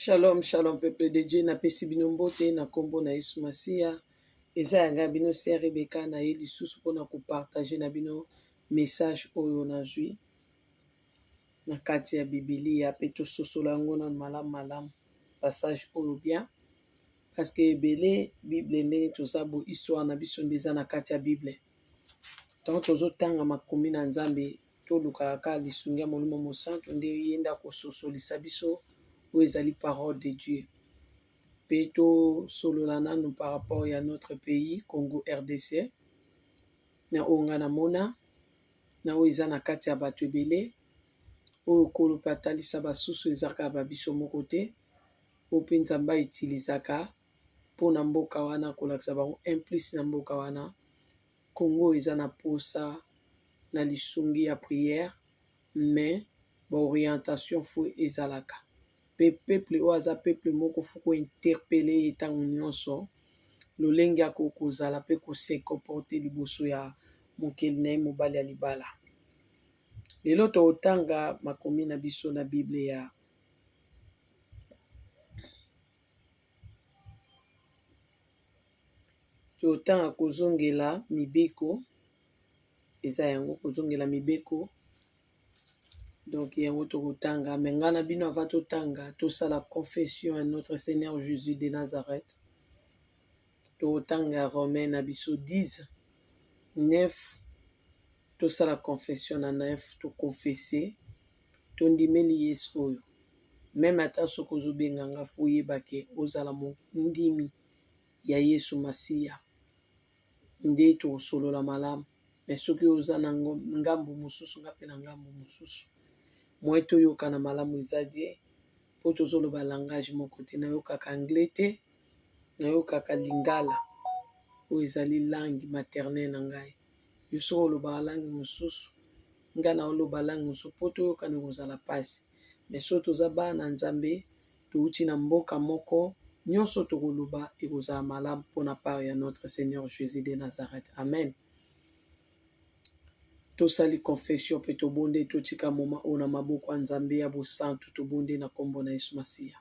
Shalom, shalom peuple de Dieu, napesi bino mbote na kombo na Yesu Masiya. Eza ya ngai bino se Rebecca na ye lisusu mpona kopartage na bino message oyo nazwi na kati ya Bibilia mpe tososola yango na malamu malamu passage oyo bien parce que ebele Bible ndenge toza bo histoire na biso nde eza na kati ya Bible. Tango tozo tanga makomi na Nzambe tolukaka ka lisungi ya Molimo Mosantu nde ye nde akososolisa biso oyo ezali parole de Dieu. Pe tosolola nanu par rapport ya notre pays Congo RDC na oyo nga namona na oyo eza na kati ya bato ebele oyo kolo pe atalisa basusu ezaka ba biso moko te oyo pe Nzambe a utilisaka mpona mboka wana kolakisa bango un plus na mboka wana Congo eza na posa na lisungi ya prière mais ba orientation fo ezalaka pe peuple oyo aza peuple moko fo ko interpele ye tango nionso lolenge ya kokozala pe ko se comporter liboso ya mokeli na ye mobali ya libala lelo totanga makomi na biso na bible ya totanga kozongela mibeko eza yango kozongela mibeko donk yango tokotanga me nga na bino ava totanga tosala confession ya notre seigneur jesus de nazareth tokotanga Romain na biso 10 9 tosala confession na 9 tokonfese tondimeli yesu oyo meme ata soki ozobenga nga fo oyeba ke ozala mondimi ya yesu masiya nde tokosolola malamu me soki oza na ngambo mosusu nga mpe na ngambo mosusu moye toyokana malamu eza bien po tozoloba langage moko te nayokaka anglais te nayokaka lingala oyo ezali langue maternel na ngai yo soki olobaka langue mosusu ngai na oloba langue mosusu po toyokana ekozala pasi me so toza bana nzambe touti na mboka moko nyonso tokoloba ekozala malamu pona part ya notre seigneur jesus de nazareth amen Tosali confession pe tobonde ete otika moma oyo na maboko ya Nzambe ya bosantu. Tobonde na kombo na Yesu Masiya.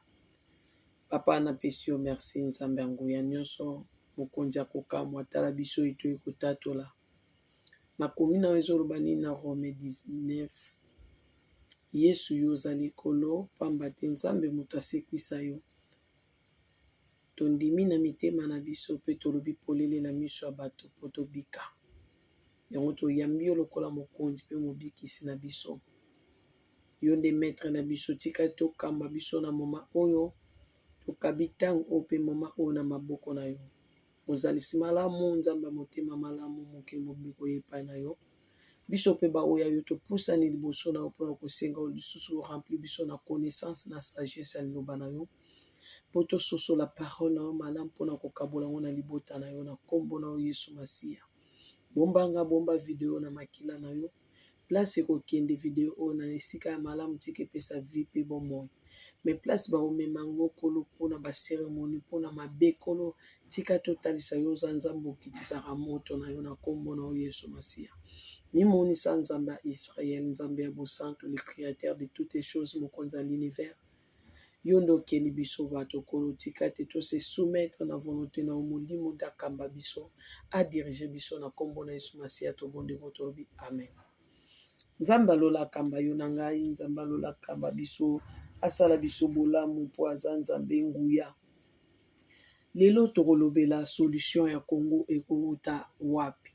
Papa na pesi yo merci Nzambe ya nguya nionso, mokonzi ya kokamwa tala biso oyo toye kotatola. Makomi na yo ezoloba nini na Rome 19? Yesu yo oza likolo pamba te Nzambe moto asekwisa yo. Tondimi na mitema na biso mpe tolobi polele na miso ya bato mpo tobika. Yango toyambi yo lokola mokonzi mpe mobikisi na biso. Yo nde metre na biso tika tokamba biso na moma oyo tokabi ntango oyo mpe moma oyo na maboko na yo. Mozalisi malamu nzambe ya motema malamu mokili mobimba koya epai na yo biso mpe baoyo yo topusani liboso na yo mpona kosenga yo lisusu orempli biso na connaissance na sagesse ya liloba na yo mpo tososola parole na yo malamu mpo na kokabola yango na libota na yo na nkombo na yo Yesu Masiya. Bomba nga, bomba video na makila na yo, place ekokende video oyo na esika ya malamu tika epesa vie mpe bomoi me place bakomema yango kolo mpo na baseremoni mpo na mabe kolo tika totalisa yo oza nzambe okitisaka moto na yo na nkombo na yo yesu masiya mimonisa nzambe ya israel nzambe ya bosantu le créateur de toutes choses mokonzi ya l'univers Yo nde okeli biso bato kolo tika te to se soumettre na volonte na yo molimo nde akamba biso a diriger biso na kombo na yesu masiya tobondi bo tolobi amen nzambe ya lola akamba yo na ngai nzambe ya lola akamba biso asala biso bolamu mpo aza nzambe nguya lelo tokolobela solution ya congo ekowuta wapi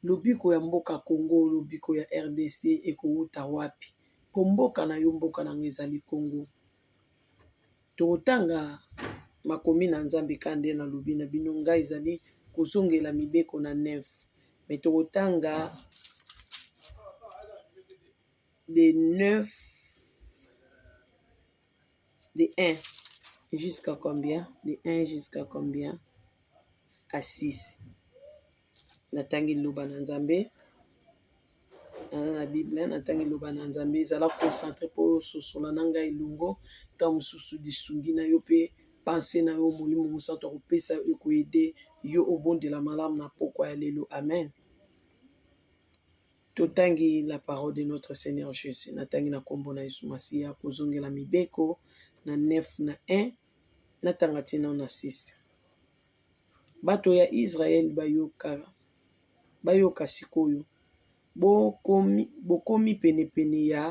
lobiko ya mboka congo lobiko ya rdc ekowuta wapi Po mboka na yo mboka na nga ezali Congo tokotanga makomi na nzambe ka nde na lobi na bino nga ezali kozongela mibeko na nef me tokotanga de nef de 1 jusqu'à combien de 1 jusqu'à combien à 6 natangi liloba na nzambe naza na bible natangi liloba na nzambe ezala concentre mpo ososola na ngai elongo ntango mosusu lisungi na yo mpe panse na yo molimo mosantu akopesa yo ekoyede yo obondela malamu na mpokwa ya lelo amen totangi la parole de notre seigneur jésus natangi na nkombo na yesu masiya kozongela mibeko na 9 na 1 natanga ntina na 6 Bato ya Israël ba yoka, ba yoka sik'oyo! Bo komi penepene ya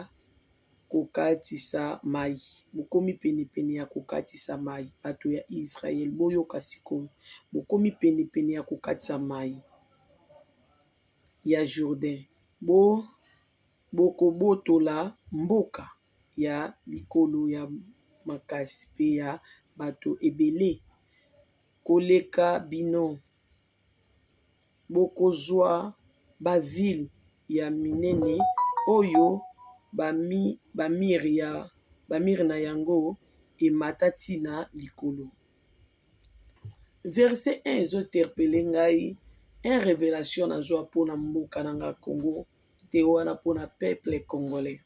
ko katisa mayi, bo komi penepene ya ko katisa mayi. Bato ya Israël, bo yoka sik'oyo! Bo komi penepene ya ko katisa mayi ya Jourdain. Bo ko botola mboka. ya mikolo ya makasi mpe ya bato ebele koleka bino. Bokozwa bavile ya minene oyo bamir na yango emata ntina na likolo. Verse 1 ezoterpele ngai un revelation nazwa mpona mboka na nga congo. te wana pona peuple congolais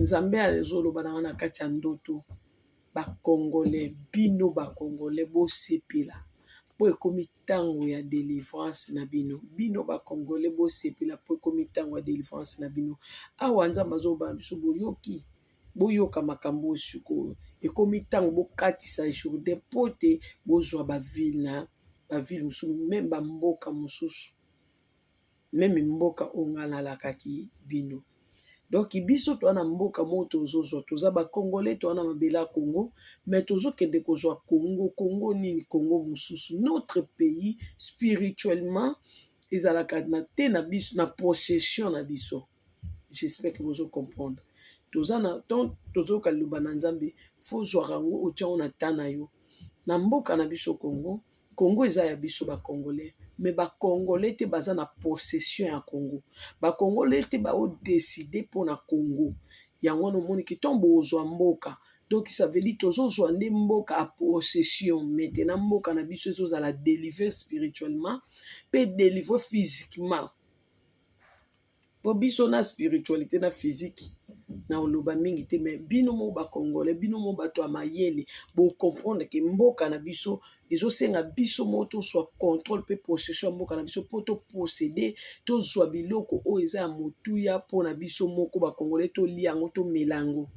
nzambe azoloba na nga na kati ya ndoto ba congolais bino ba congolais bosepela po ekomi tango ya delivrance na bino bino ba congolais bosepela po ekomi tango ya delivrance na bino awa nzambe azoloba na biso boyoki boyoka makambo oyo sikoyo ekomi tango bokatisa jourdain po te bozwa ba ville na ba ville mosusu meme ba mboka mosusu. meme mboka oyo nga nalakaki bino donc biso toza na mboka moko tozozwa toza ba congolais toza na mabele ya congo mais tozokende kozwa congo congo nini congo mosusu notre pays spirituellement ezalaka na te na biso na possession na biso j'espère que bozo comprendre toza na temps tozoyoka liloba na nzambe fozwaka yango otiango na temps na yo na mboka na biso congo Congo eza ya biso ba congolais mais ba congolais te baza na possession ya congo ba congolais te bao decide mpona congo yango wana omoni ke ntango bozwa mboka donk sa veut dire tozozwa nde mboka a possession maintenant mboka na biso ezozala delivre spirituellement mpe delivre physiquement. po biso na spiritualite na physique na oloba mingi te mais bino mo ba congolais bino mo bato ya mayele bo comprendre ke mboka na biso ezosenga biso mo tosua controle pe possession ya mboka na biso po to possede tozua biloko oyo eza ya motuya mpona biso moko ba congolais tolia yango tomela yango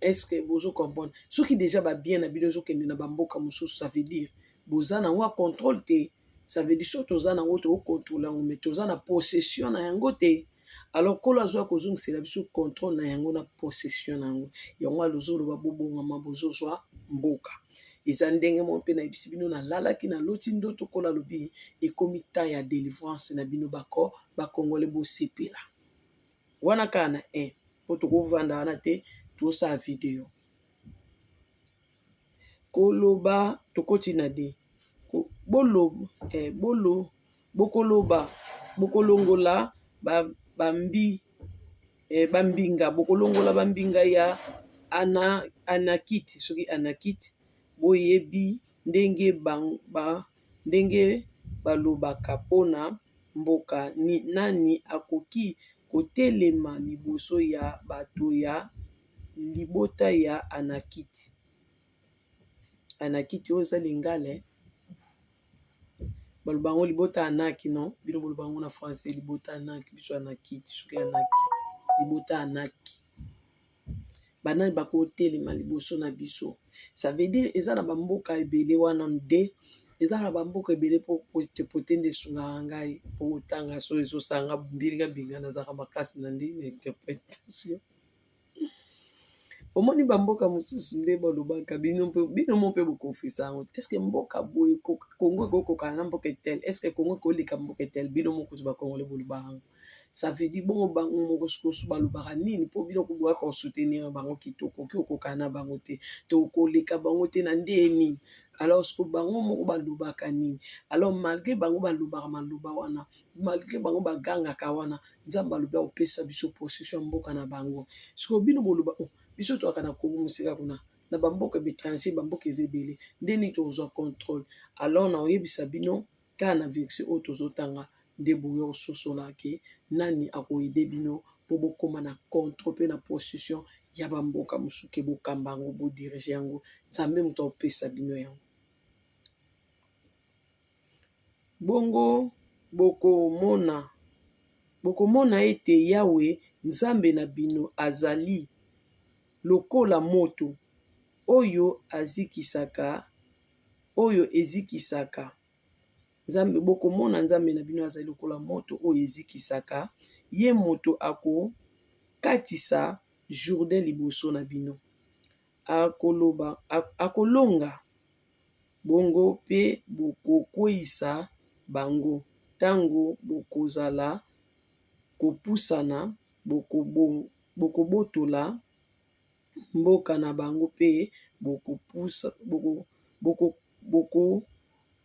est-ce que bozo comprendre soki deja ba bien na bino ezokende na bamboka mosusu ça veut dire boza na yango ya controle te ça veut dire soki toza na yango toko controle yango mais toza na possession na yango te alors nkolo azwa kozongisela biso controle na yango na possession na yango yango alozoloba bobongama bozozwa mboka eza ndenge moko mpe nayebisi bino nalalaki naloti ndoto nkolo alobi ekomi temps ya delivrance na bino bako bakongole bosepela wana kaka na 1 mpo tokovanda wana te tosala video Koloba tokoti na de bokoloba bokolongola bambinga bokolongola bambinga ya anakiti soki anakiti boyebi ndenge balobaka mpona mboka nani akoki kotelema liboso ya bato ya libota ya anakiti anakiti oyo eza lingale baloba yango libota anaki no bino boloba yango na francais libota anaki biso anakiti soki anaki libota anaki banani bakotelema liboso na biso ça veut dire eza na bamboka ebele wana nde eza na bamboka ebele mpo potepote nde esungaka ngai mpo kotanga so ezosanga mbilinga mbinga nazalaka makasi na nde na interpretation omoni bamboka mosusu nde bolobaka bino bino mo mpe bokonfisa yango eske mboka boye kongo ekokokana na mboka etele eske kongo ekoleka mboka etele bino mokutu bakongole boloba yango savedi bongo bango mokosukosu balobaka nini mpo bino kobwaka kosutenir bango kitoko oki okokana na bango te to koleka bango te na nde nini alors siko bango moko balobaka nini alors malgre bango balobaka maloba wana malgre bango bagangaka wana nzambe alobi akopesa biso possession ya mboka na bango sikoyo bino boloba oh, biso toyaka na kongo mosika kuna na bamboka baétranger bamboka eza ebele nde nini tokozwa contrôle alors na oyebisa bino kaka na verse oyo tozotanga nde boyo ososola ke nani akoyede bino mpo bokóma na contrôle mpe na possession ya bamboka mosusu ke bokamba yango bodirige yango nzambe moto akopesa bino yango Bongo bokomona, bokomona ete Yawe Nzambe na bino azali lokola moto oyo azikisaka, oyo ezikisaka. Bokomona Nzambe na bino azali lokola moto oyo ezikisaka, ye moto akokatisa Jourdain liboso na bino. Akolonga. Bongo mpe bokokweisa bango, tango bokozala kopusana, bokobotola mboka na bango mpe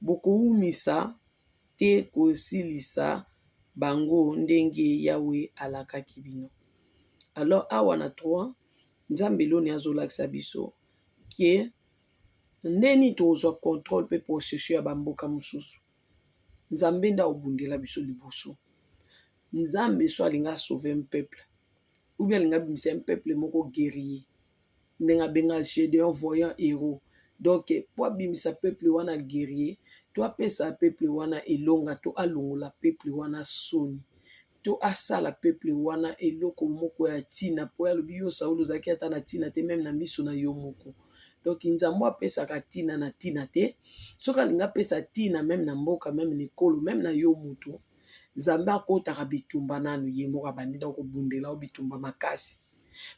bokoumisa te kosilisa bango ndenge Yawe alakaki bino. Alors awa na trois Nzambe eloni azolakisa biso ke. Ndenge nini tokozwa controle mpe possession ya bamboka mosusu? Nzambe nde akobundela biso liboso. Nzambe so alingi a sauver un peuple ou bien alingi abimisa un peuple moko guerrier ndenge abenga Gedeon voyant heros donc mpo abimisa peuple wana guerrier to apesa peuple wana elonga to alongola peuple wana soni. to asala peuple wana eloko moko ya tina po alobi yo Saul ozalaki ata na tina te meme na miso na yo moko donc Nzambo apesaka tina na tina te soki alingi apesa tina meme na mboka meme na ekolo meme na yo moto Nzambe akotaka bitumba nanu ye moko abandi na kobundela yo bitumba makasi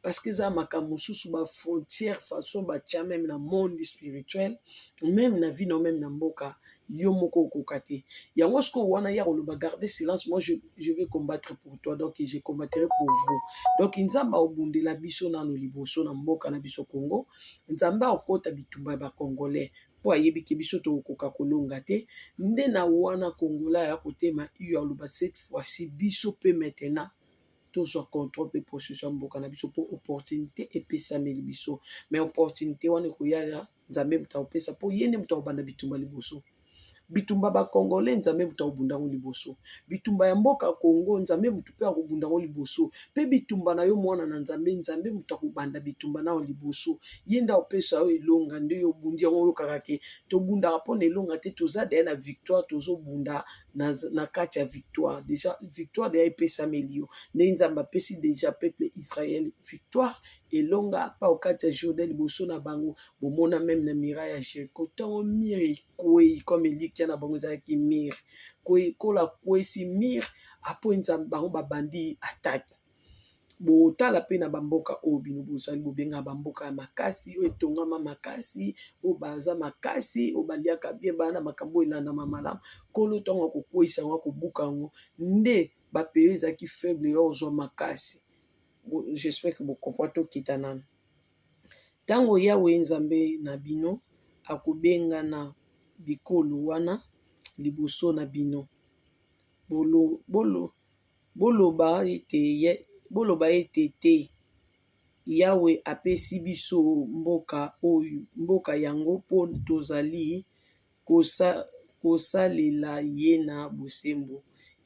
parce que eza makambo mosusu ba frontière façon batya meme na monde spirituel meme na vie nao meme na mboka yo moko okoka te yango sikoyo wana ya koloba garde silence moi je, je vais combattre pour toi donc je combattrai pour vous donc nzambe aobundela biso nano liboso na mboka na biso congo nzambe aokota bitumba ya bacongolais mpo ayebi ke biso tokokoka kolonga te nde na wana kongola ya kotema iyo aloba cette fois-ci biso mpe maintenant tozwa contrôle mpe processus ya mboka na biso mpo opportunité epesameli biso mais opportunité wana ekoya ya nzambe moto akopesa mpo ye nde moto akobanda bitumba liboso bitumba bakongole nzambe moto akobunda yango liboso bitumba ya mboka kongo nzambe moto mpe akobunda yango liboso mpe bitumba na yo mwana na nzambe nzambe moto akobanda bitumba nao liboso ye nde akopesa yo elonga nde yo obundi yango oyokaka ke tobundaka mpo na elonga te toza deye na victoire tozobunda na kati ya victoire deja victoire deja epesameli yo ndenge nzambe apesi deja peuple israel victoire elonga pa okati ya jourdain liboso na bango bomona meme na mira ya jeriko ntango mire ekwei comme elikya na bango ezalaki mire kola kwesi mire apo nzambe bango babandi atake botala mpe na bamboka oyo bino bozali bobengana bamboka ya makasi oyo etongama makasi oyo baza makasi oyo baliaka bien baa na makambo oyo elandama malamu nkolo ntango akokweisa yango akobuka yango nde bapeye ezalaki faible ya kozwa makasi jespere ke bokompra tokita nano ntango yawe nzambe na bino akobengana bikolo wana liboso na bino bolobolo Boloba ete, Te! Yawe apesi biso mboka yango mpo tozali kosalela ye na bosembo.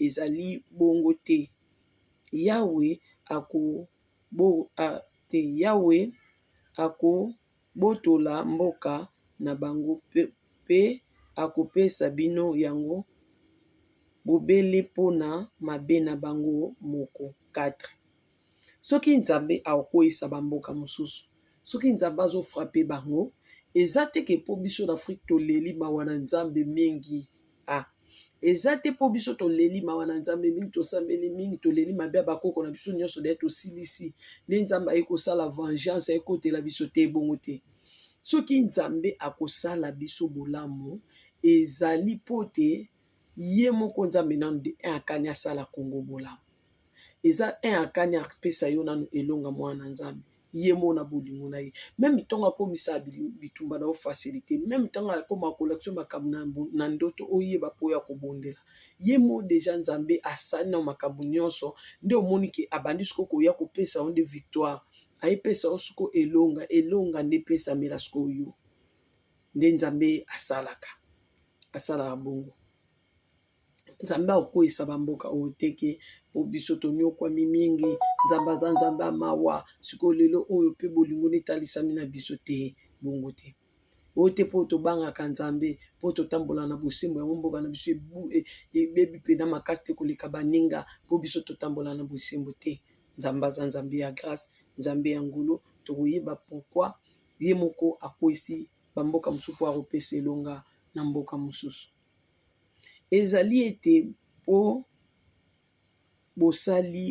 Ezali bongo te! Yawe ako. botola mboka na bango mpe akopesa bino yango bobele mpo na mabe na bango moko. 4 soki Nzambe akokweyisa ba mboka mosusu soki Nzambe azo frappe bango eza te ke mpo biso na Afrique toleli mawa na Nzambe mingi. ah eza te mpo biso toleli mawa na nzambe mingi tosambeli mingi toleli mabe ya bakoko na biso nyonso de tosilisi nde nzambe aye kosala vengeance ayekotela biso te ebongo te soki nzambe akosala biso bolamu ezali mpo te ye moko nzambe nano de akani asala kongo bolamu eza un akani apesa yo nanu elonga mwana nzambe ye moko na bolingo na ye meme ntango akomisa bitumba na yo facilité meme ntango akoma kolakisa yo makambo na ndoto oyeba mpo ya kobondela ye moko deja nzambe asali na makambo nyonso nde omoni ke abandi siko koya kopesa yo nde victoire ayepesa yo siko elonga elonga nde epesamela siko yo nde nzambe asalaka asalaka bongo Nzambe akweisa ba mboka oyo te ke po biso toniokuami mingi nzambe aza nzambe ya mawa sikoyo lelo oyo pe bolingo nde etalisami na biso te bongo te oyo te po tobangaka nzambe po totambola na bosembo yango mboka na biso ebebi mpena makasi te koleka baninga po biso totambola na bosembo te nzambe aza nzambe ya grace nzambe ya ngulu tokoyeba pokwa ye moko akwesi bamboka mosusu po akopesa elonga na mboka mosusu Ezali ete po bosali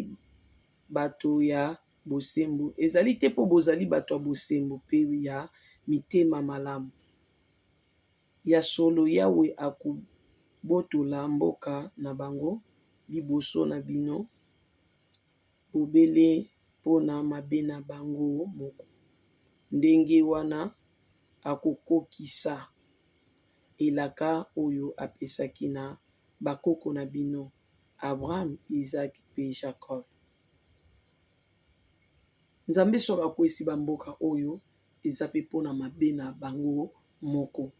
bato ya bosembo, ezali te po bozali bato ya bosembo pe ya mitema malamu. Ya solo Yawe akobotola mboka na bango liboso na bino, bobele pona mabe na bango moko. Ndenge wana akokokisa. elaka oyo apesaki na bakoko na bino, Abraham, Izaak, mpe Jakob. Nzambe soki akweyisi bamboka oyo, eza mpe mpo na mabe na bango moko.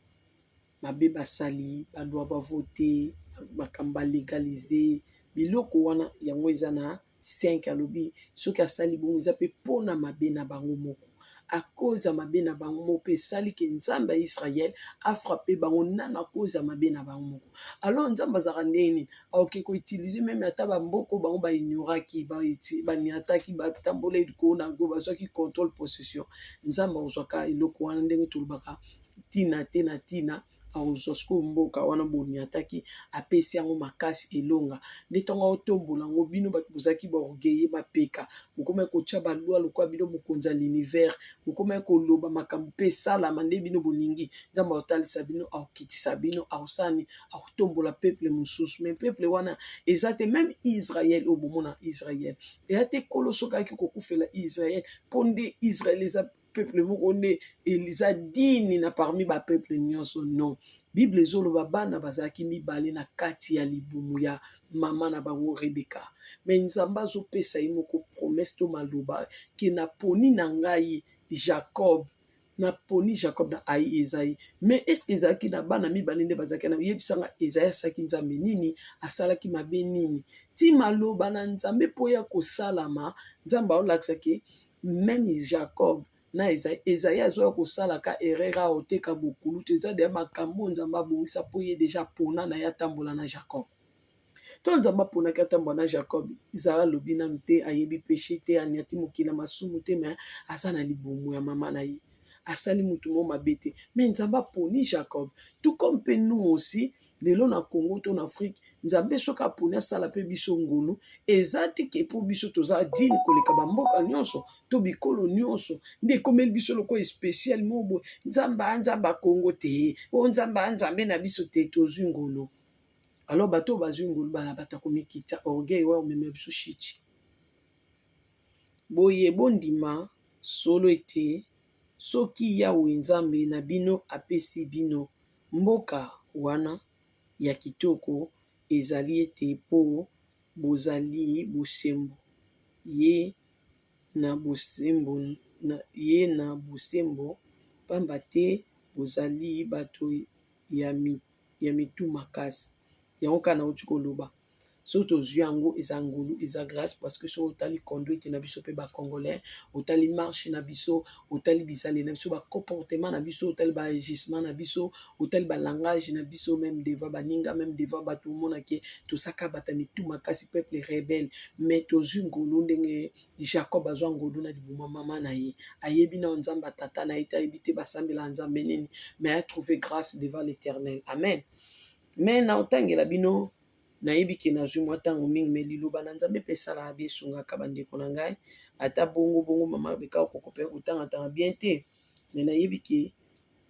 Mabe basali, balwa bavote, makambo balegalize, biloko wana yango eza na 5 alobi soki asali bongo eza mpe mpo na mabe na bango moko akoza mabe na bango moko mpe esali ke nzambe ya israel afrape bango nano akoza mabe na bango moko alors nzambe azalaka ndenge nini aoke koutilize meme ata bamboko bango baignoraki baniataki batambola likolo na yango bazwaki controle possession nzambe akozwaka eloko wana ndenge tolobaka ntina te na ntina akozwa sikoyo mboka wana boniataki apesi yango makasi elonga nde ntango aotombola yango bino bato bozalaki baorgueille mapeka bokomaki kotya balwa lokola bino mokonzi ya l'univers bokomaki koloba makambo mpe esalama nde bino bolingi nzambe akotalisa bino akokitisa bino akosani akotombola peuple mosusu me peuple wana eza te meme israel oyo bomona israel eya te kolo soki ayaki kokufela israel mpo nde israel eza peuple moko nde eza dini na parmi ba peuple nyonso non bible ezoloba bana bazalaki mibale na kati ya libumu ya mama na bango rebeka me nzambe azopesa ye moko promese to maloba ke naponi na ngai jacob naponi jacob na ai ezai me eske ezalaki na bana mibale nde bazalaki na yebisanga ezai asalaki nzambe nini asalaki mabe nini ti maloba na nzambe mpo ya kosalama nzambe aolakisaki meme jacob na ezai ezai azoya kosala ka erreur awa oteka bokulutu eza deya makambo oyo nzambe abongisa mpo ye deja pona na ye atambola na jacob to nzambe aponaki atambola na jacob izala alobi nanu te ayebi peshe te aniati mokili ya masumu te me aza na libumu ya mama na ye asali motu mo mabe te me nzambe aponi jacob tout comme mpe nous aussi lelo na congo to na afrike nzambe soki aponi asala mpe biso ngolu eza te ke mpo biso toza dine koleka bamboka nyonso to bikolo nyonso nde ekomeli biso lokola especial moboye nzambe anzambe akongo te o oh, nzambe anzambe na biso te tozwi ngolu alors bato oyo bazwi ngolu bana bato akomikita orgueil oyo omema biso shiti boye bondima solo ete soki yawe nzambe na bino apesi bino Mboka wana ya kitoko ezali ete mpo bozali bosembo, ye na bosembo na ye na bosembo, mpamba te bozali bato ya mitu makasi. Yango kaka nauti koloba. soki tozwi yango eza ngolu eza grâce parce que soki otali conduite na biso mpe bacongolais otali marche na biso otali bizale na biso bacomportement na biso otali baagissement na biso otali balangage na biso meme devant baninga meme devant bato omonake tosaka bata mitu makasi peuple rebelle mais tozwi ngolu ndenge jacob azwa ngolu na libuma mama na ye ayebi nao nzambe atata na ye te ayebi te basambela nzambe nini mais atrouve grâce devant l'éternel amen Mais na otangela bino nayebi ke nazwi mwa ntango mingi me liloba na nzambe mpe esalaka bie esungaka bandeko na ngai ata bongo bongo mama beka okoko mpe kotangatanga bien te me nayebi ke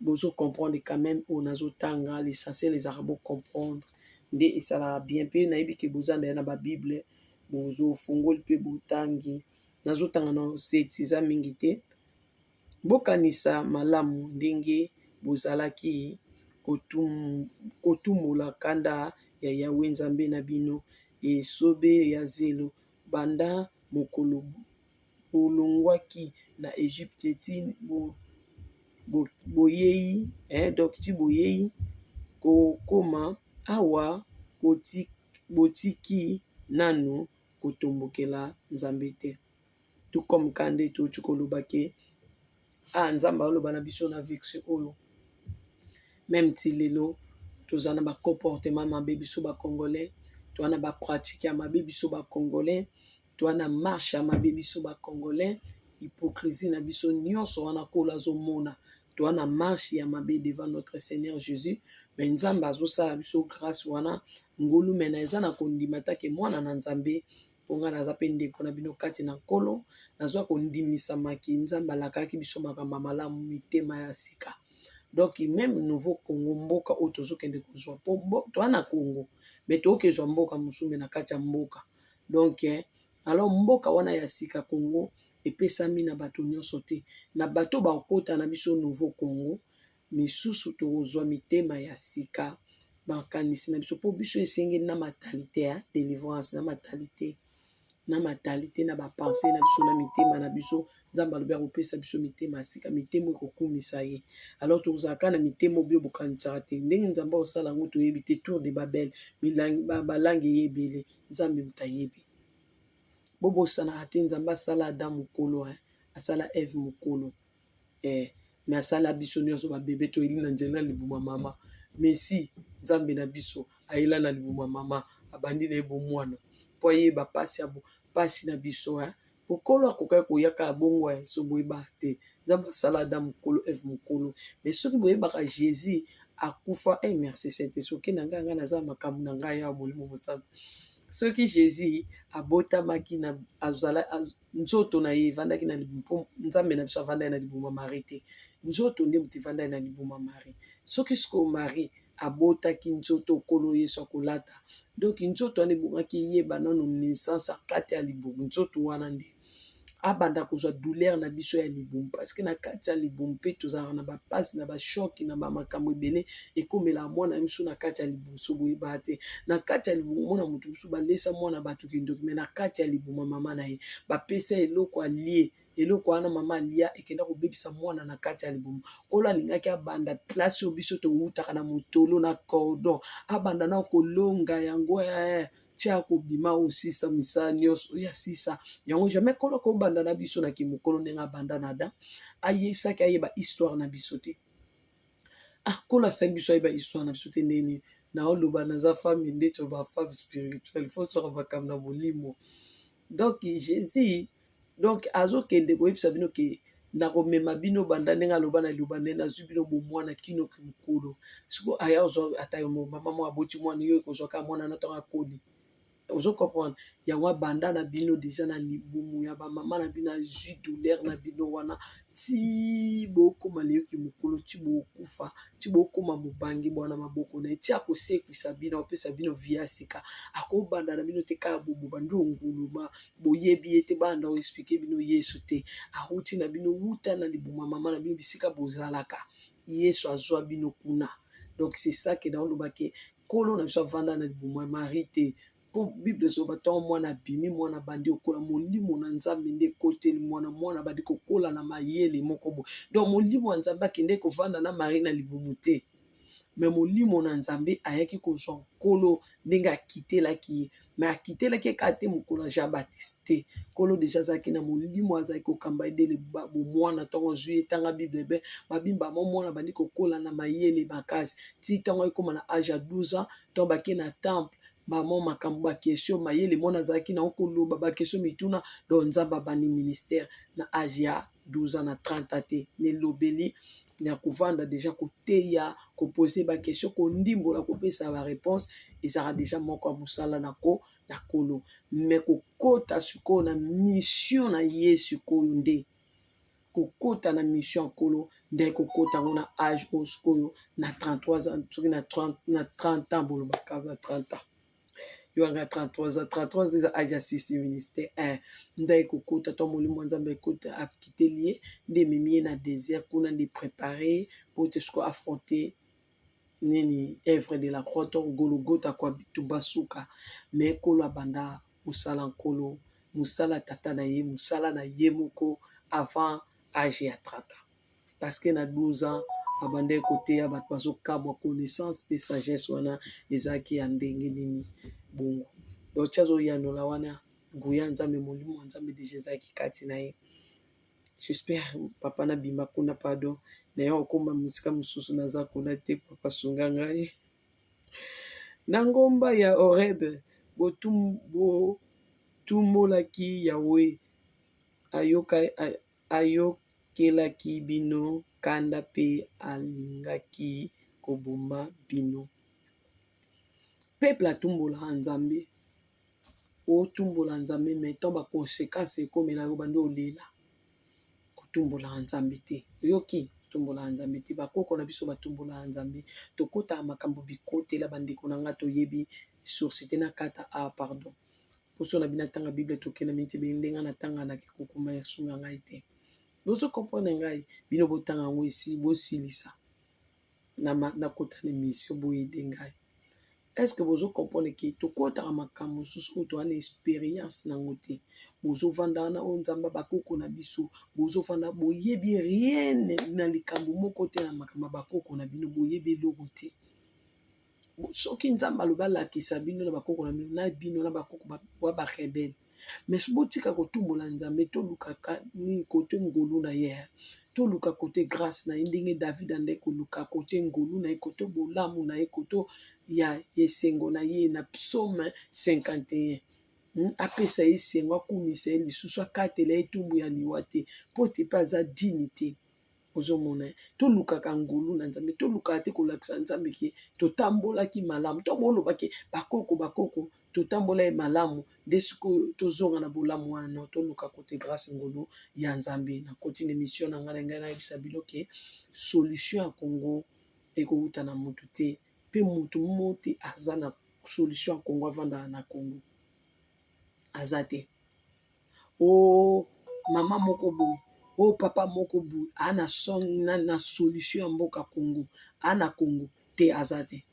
bozo comprendre quand même oyo nazotanga l'essentiel ezalaka bo comprendre nde esalaka bien mpe nayebi ke boza na ye na babible bozofungoli mpe botangi nazotanga na seti eza mingi te Bokanisa malamu ndenge bozalaki kotumola kanda ya Yawe Nzambe na bino, esobe ya zelo, banda mokolo bolongwaki na Ejipito ti boyei kokoma awa, botiki nanu kotombokela Nzambe te. tout comme ka nde touti koloba ke a ah, nzambe aoloba na biso na vexe oyo meme ti lelo toza na bacomportement mabe biso bacongolais toa na bapratike ya mabe biso bacongolais toa na marche ya mabe biso bacongolais hypocrisie na biso nyonso wana kolo azomona toa na marche ya mabe devant notre seigneur jésus me nzambe azosala biso grâce wana ngolumena eza na kondima take mwana na nzambe mpo ngai naza mpe ndeko na bino kati na Nkolo, nazwa kondimisamaki, Nzambe alakaki biso makambo ya malamu, mitema ya sika. Donc meme nouveau Congo mboka oyo tozokende kozwa mpo toa na Congo me toyoki zwa mboka mosusu me na kati ya mboka donc eh, alors mboka wana ya sika Congo epesami na bato nyonso te, na bato bakota na biso nouveau Congo misusu tokozwa mitema ya sika makanisi na biso mpo biso esengeli na matalite ya delivrance na matalite na matalite na bapense na biso na mitema na biso nzambe alobi akopesa biso mitema ya sika mitema ekokumisa ye alors tokozalaka na mitema obio bokanisaka te ndenge nzambe akosala yango toyebi te tour de babel balangi eye ebele nzambe moto ayebi bobosanaka te nzambe asala ada mokolo asala eve mokolo eh, me asala biso nyonso babebe toyeli na nzela na libuma mama mesi nzambe na biso ayela na libuma mama abandi na ye bomwana mpo ayeba mpasi ya mpasi na biso eh. mokolo akokaki koyaka ya bongo eh, so boyeba te nzambe asala ada mokolo eve mokolo me soki boyebaka jésus akufa eh, merci sainte soki na ngai ngai naza makambo na ngai ya molimo mosantu soki jésus abotamaki na azala az, nzoto na ye evandaki na libumu mpo nzambe na biso avandaki na libumu ya marie te nzoto nde moto evandaki na libumu ya marie soki sikoyo marie abotaki nzoto okolo yesu akolata donki nzoto wana ebongaki eyeba nano naissance akati ya libumu nzoto wana nde abanda kozwa douleur na biso ya libumu parceke na kati ya libumu mpe tozalaka na bapasi na bashoki na bamakambo ebele ekomela mwana ya misu na kati ya liboso boyeba te na kati ya libumu mona moto mosusu balesa mwana bato kindoki me na kati ya libuma mama na ye bapesa eloko alie eloko wana mama alia ekenda kobebisa mwana na kati ya libumu nkolo alingaki abanda place oyo biso towutaka na motolo na cordon abanda na kolonga yango eh, tia kobima osisa misala nyonso oyo asisa yango jamais nkolo akobanda na biso na kimokolo ndenge abanda na adam ayeisaki ayeba histoire na biso te Ah kola sa biso ayeba histoire na biso te ndenge nini naoloba naza femme nde toloba femme spirituelle fo soka makambo na molimo donc jésus donc azokende koyebisa bino ke nakomema bino banda ndenge aloba na liloba nde nazwi bino bomwana kinoki mokolo siko aya ozwa ata yo mama mwa aboti mwana yo ekozwaka mwana na ntango akoli ozo comprendre yango abanda na bino deja na libumu ya bamama na bino azwi douleur na bino wana ti bokoma leyoki mokolo ti bokufa ti bokoma mobange bwana maboko na ye ti akosekwisa bino akopesa bino vi ya sika akobanda na bino te kaka boboba nde onguluma boyebi ye te banda oexplike bino yesu te awuti na bino wuta na libuma mama na bino bisika bozalaka yesu azwa bino kuna donc c'est ça ke naolobake nkolo na biso avanda na libumu ya marie te mpo bible ezoba ntango mwana abimi mwana abandi okola molimo na nzambe nde ekoteli mwana mwana abandi kokola na mayele moko bo donc molimo ya nzambe akende kovanda na marie na libumu te me molimo na nzambe ayaki kozwa nkolo ndenge akitelaki ye me akitelaki ye kaka te mokolo ya jean baptiste te nkolo deja azalaki na molimo azalaki kokamba ye dele bomwana ntango azwi ye ntanga bible be babimba mo mwana bandi kokola na mayele makasi ti ntango ayekoma na age ya 12 ans ntango bake na temple bamo makambo bakesio mayele mwana azalaki na okoloba bakesio mituna don nzambe abandi ministère na age ya 12 ans na 30 ans te nelobeli ya kovanda deja koteya kopose bakestion kondimbola kopesa bareponse ezalaka deja moko ya mosala na ko na kolo me kokota sikoyo na mission na ye sikoyo nde kokota na mission ya kolo nde kokota yango na age oyo sikoyo na 33 ans soki na 30 ans bolobaka na 30 ans yanga 33 ans 33 ans eza age ya sisi ministre eh, nda ekokota to molimo ya nzambe ekota akiteli ye nde ememi ye na désert kuna nde prépare po te siko affronte nini œuvre de la croix to gologota kwa bitubasuka me kolo abanda mosala nkolo mosala tata na ye mosala na ye moko avant age ya 30 ans parce que na 12 ans abandaki koteya bato bazokabwa connaissance mpe sagesse wana ezalaki ya ndenge nini bongo donc ti azoyanola wana nguya nzambe molimo ya nzambe deja ezalaki kati na ye j'espère papa nabima kuna pardon naye okoma mosika mosusu naza kuna te papa sunga ngai na ngomba ya orebe botumbolaki yawe ayoka Ayokelaki bino kanda mpe alingaki koboma bino. Peuple atumbola Nzambe, otumbola Nzambe mais tant ba consequences ekomela yo bandi olela. Kotumbola Nzambe te. Oyoki? Kotumbola Nzambe te. Bakoko na biso batumbola Nzambe. Tokota makambo bikotela bandeko na nga toyebi source te na kata a pardon. poso na bino atanga bible tokenda miniti bini ndenge natanga na kikukuma ya sunga ngai te bozo comprendre ngai bino botanga yango esi bosilisa nakota na emission boyede ngai est ce que bozo comprendre ke tokotaka makambo mosusu oyo toza na expérience nango te bozofanda wana oyo nzambe bakoko na biso bozofanda boyebi rien na likambo moko te na makambo ya bakoko na bino boyebi eloko te soki nzambe alobi alakisa bino na bakoko na bino na bino na bakoko wa barebele mais botika kotumbola nzambe tolukaka nini kote ngolu na ye toluka kote grâce na ye ndenge david andai koluka kote ngolu na ye kote bolamu na ye kote ya esengo na ye na psaume 51 Hmm? apesa ye esengo akumisa ye lisusu akatela ye etumbu ya liwa te mpo te mpe aza dini te ozomona tolukaka ngolu na nzambe tolukaka te kolakisa nzambe ke totambolaki malamu to boloba ke bakoko bakoko totambola ye malamu nde sikoyo tozonga na bolamu wana no toluka kote grâce ngolu ya nzambe na koti na émission na ngai na ngai nayebisa bino ke solution ya congo ekowuta na mutu te mpe mutu mote aza na solution ya congo avandaka na congo aza te o oh, mama moko boye o oh, papa moko boye ana son na, na solution ya mboka congo ana congo te aza te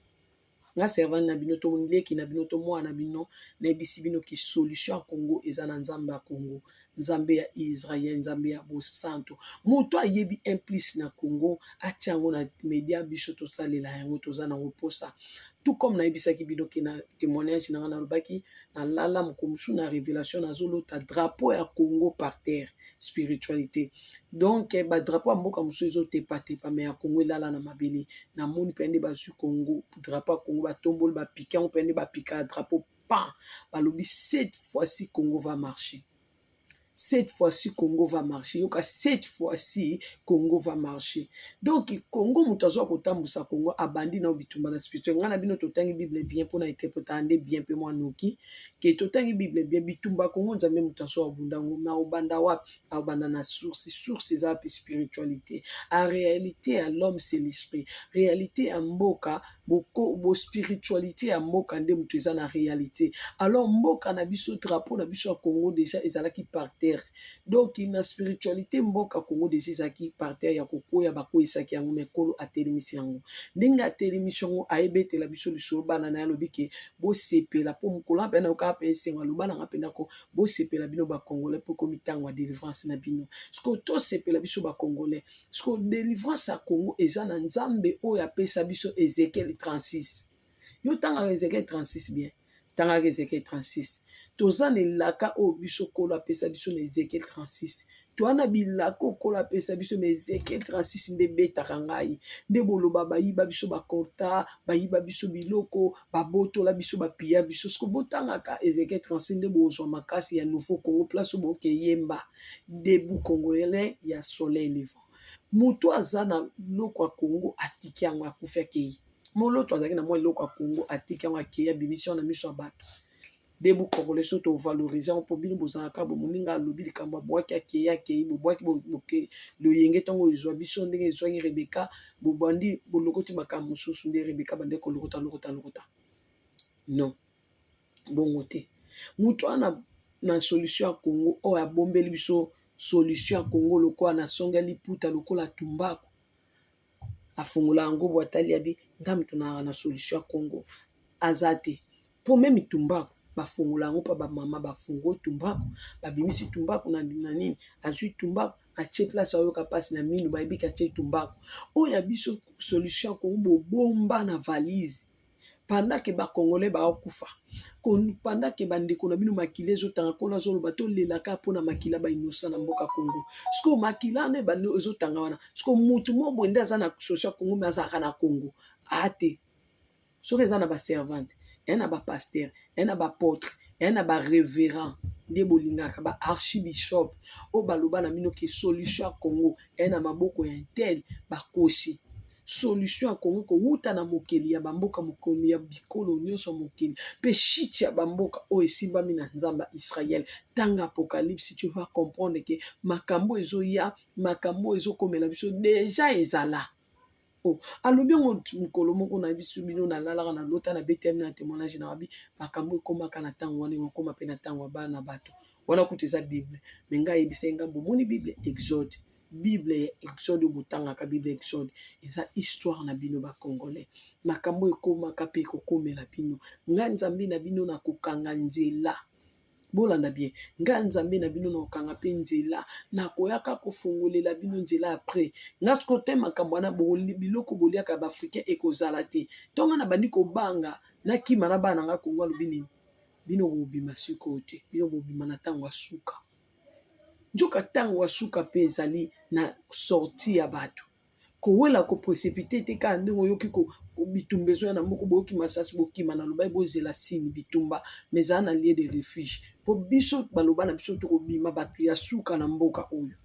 nga servante na bino to leki na bino to mwana na bino nayebisi bino ke solution ya congo eza na nzambe ya congo nzambe ya israel nzambe ya bosanto moto ayebi implice na congo atia yango na media biso tosalela yango toza nango mposa tout comme nayebisaki bino ke na témoignage na ngai nalobaki nalala mokolo mosusu na révélation nazolota drapeau ya congo par terre spiritualité donc eh, badrapeau ya mboka mosusu ezotepatepa me ya congo elala na mabele namoni mpenza nde bazwi congo drapeau ya congo batomboli bapika yango mpenza nde bapika drapeau pan balobi cette fois-ci congo va marcher cette fois-ci congo va marcher yoka cette fois-ci congo va marcher donc congo moto azwa kotambusa congo abandi nao bitumba na spirituel ngai na bino totangi bible bien mpona interpretaka nde bien mpe mwa noki ke totangi bible bien bitumba congo nzambe moto azwa obunda yango na obanda wapi aobanda na source source eza wapi spiritualité a réalité ya l'homme c'est l'esprit réalité ya mboka bo spiritualite ya mboka nde moto eza na realite alors mboka na biso drapeau na biso ya congo deja ezalaki par terre donc na spiritualite mboka congo deja ezalaki par terre ya kokwea bakweisaki yango mekolo atelemisi yango ndenge atelemisi yango ayebetela biso lisolo bana na ye alobi ke bosepela mpo mokolo ape nayokaa mpe esengo aloba nanga mpe ndako bosepela bino bacongolais mpo ekomi ntango ya delivrance na bino sikoyo tosepela biso bacongolais Sikoyo delivrance ya Congo eza na Nzambe oyo apesa biso Ezekiel 36. Yo tangaka Ezekiel 36 bien. Tangaka Ezekiel 36. Toza na elaka oyo biso Nkolo apesa biso na Ezekiel 36. Toa na bilaka oyo Nkolo apesa biso na Ezekiel 36 nde betaka ngai. Nde boloba bayiba biso bakorta, bayiba biso biloko, babotola biso, bapiya biso. Siko botangaka Ezekiel 36 nde bozwa makasi ya nouveau Congo place oyo bokeyemba. Debout congolais ya soleil levant. Moto aza na loko ya Congo atiki yango akufi akei. Moloto azalaki na mwa eloko ya Congo atiki yango akei abimisi yango na miso ya bato. Debout congolais soki tovalorize yango mpo bino bozalaka bo moninga alobi likambo abwaki akei akei bobwaki boke loyenge ntango ezwa biso ndenge ezwaki Rebeka bobandi bolokoti makambo mosusu nde Rebeka bande kolokota lokota lokota non. bongo te mutu wana na solution ya congo oyo abombeli biso solution ya congo lokola na songe ya liputa lokola tumbaku afongola yango po atali ya bi nga mutu na na solution ya congo aza te po meme tumbaku bafongola yango pa ba mama bafungola tumbaku babimisi tumbaku na nini azwi tumbaku atie place ayoka mpasi na minu bayebi ke atie tumbaku oyo ya biso solution ya congo bobomba na valise pendant que ba congolais bao kufa pendant que ba ndeko na bino makila ezo tanga nkolo azo loba to lela kaka pona makila ba innocent na mboka Congo sikoyo makila wana ebandi ezo tanga wana sikoyo mutu moko boye nde aza na social Congo mais azalaka na Congo aa te soki eza na ba servante eya na ba pasteur eya na ba apotre eya na ba reverend nde bolingaka ba archibishop oyo baloba na bino ke solution ya Congo eya na maboko ya intel bakosi solution ya Congo kowuta na mokeli ya bamboka mokoli ya bikolo nyonso ya mokili mpe shit ya bamboka oyo esimbami na Nzambe ya Israël. Tanga Apocalypse, tu vas comprendre que makambo ezoya, makambo ezokomela biso deja ezala. Oh, alobi yango mokolo moko na biso bino nalalaka na lota na betami na témoignage na wabi makambo ekomaka na ntango wana ekokoma mpe na ntango ya bana bato wana kutu eza bible me ngai ayebisa ye ngambo omoni bible exode bible ya exode oyo botangaka bible ya exode eza histoire na bino bacongolais makambo ekomaka mpe ekokomela bino nga nzambe na bino na kokanga nzela bolanda bien nga nzambe na bino na kokanga mpe nzela nakoyaka kofongolela bino nzela ya pre nga siko te makambo wana biloko boliaka ya baafricain ekozala te ntonga na bandi kobanga nakima na bana na nga kongo alobi nini bino bobima sikoyo te bino bobima na ntango ya suka Nzoka tango ya suka pe ezali na sorti ya batu kowela ko precipite te kaka ndenge oyoki bitumba ezoya na mboka boyoki masasi bokima na lobai bozela sini bitumba mais ezala na lieu de refuge po biso baloba na biso tokobima batu ya suka na mboka oyo.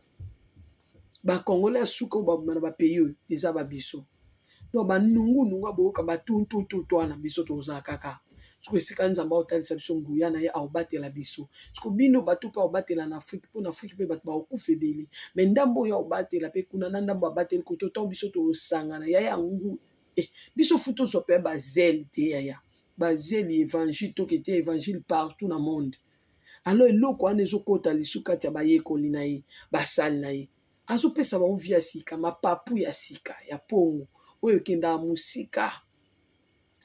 ba congolais ya suka oyo babima na ba pays oyo eza ba biso donc ba nungu nungu aboyoka ba tuntututu wana biso tozala kaka soki esika nzambe aotalisa biso nguya na ye aobatela biso soki bino bato mpe aobatela na afrike mpo na afrike mpe bato baokufa ebele me ndambo oyo aobatela mpe kuna na ndambo abateli koto ntango biso tosangana ya ya ngu e eh, biso fu tozwa mpe bazele te yaya bazele evangile tokete evangile partout na monde alors eloko wana ezokota lisu kati ya bayekoli na ye basali na ye azopesa bango vi ya sika mapapu ya sika ya mpongo oyo ekendaka mosika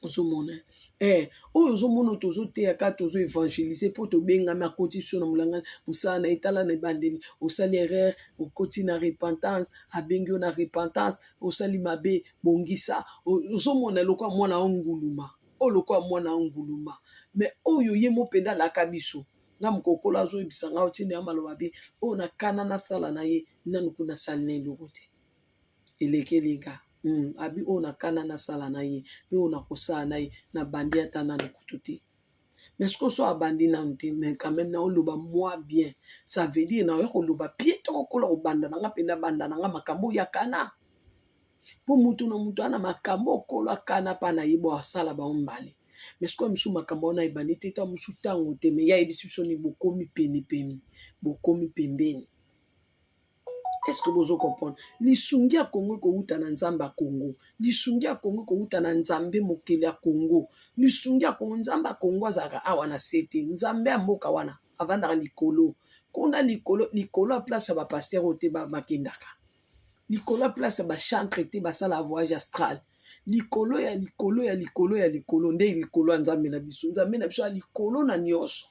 ozomona eh, oyo ozomona tozoteya kaka tozo évangélise mpo tobengami akoti biso na molanga mosala na etala na ebandeli osali erreur okoti na repentance abengi yo na repentance osali mabe bongisa ozomona eloko ya mwana onguluma oyo lokola mwana anguluma me oyo ye mo mpenza alaka biso nga mokokolo azoyebisa nga otindi ya maloba bi oyo na kana nasala na ye nanu kuna asali na eloko te elekeli nga mm, abi oyo na kana nasala na ye mpe oyo nakosala na ye na bandi ata nanu kutu te mais ce que so abandi nanu te mais quand même naoloba mwa bien ça veut dire naoya koloba pie to kokola kobanda na nga mpe nabanda na nga makambo oyo ya kana mpo moto na moto ana makambo okolo akana mpe na ye bwasala bango mbale me sikoyo mosusu makambo wana ebandi te ta mosusu ntango te me ya yebisi biso ni bokomi penepene bokomi pembeni eske bozo comprendre lisungi ya kongo ekowuta na nzambe ya kongo lisungi ya kongo ekowuta na nzambe mokeli ya kongo lisungi ya kongo nzambe ya kongo azalaka awa na se te nzambe ya mboka wana avandaka likolo kuna likolo likolo ya place ya bapaster oyo te bakendaka ba likolo ya place ya bachantre te basala voyage astral likolo ya likolo ya likolo ya likolo nde likolo ya nzambe na biso nzambe na biso ya likolo na nyonso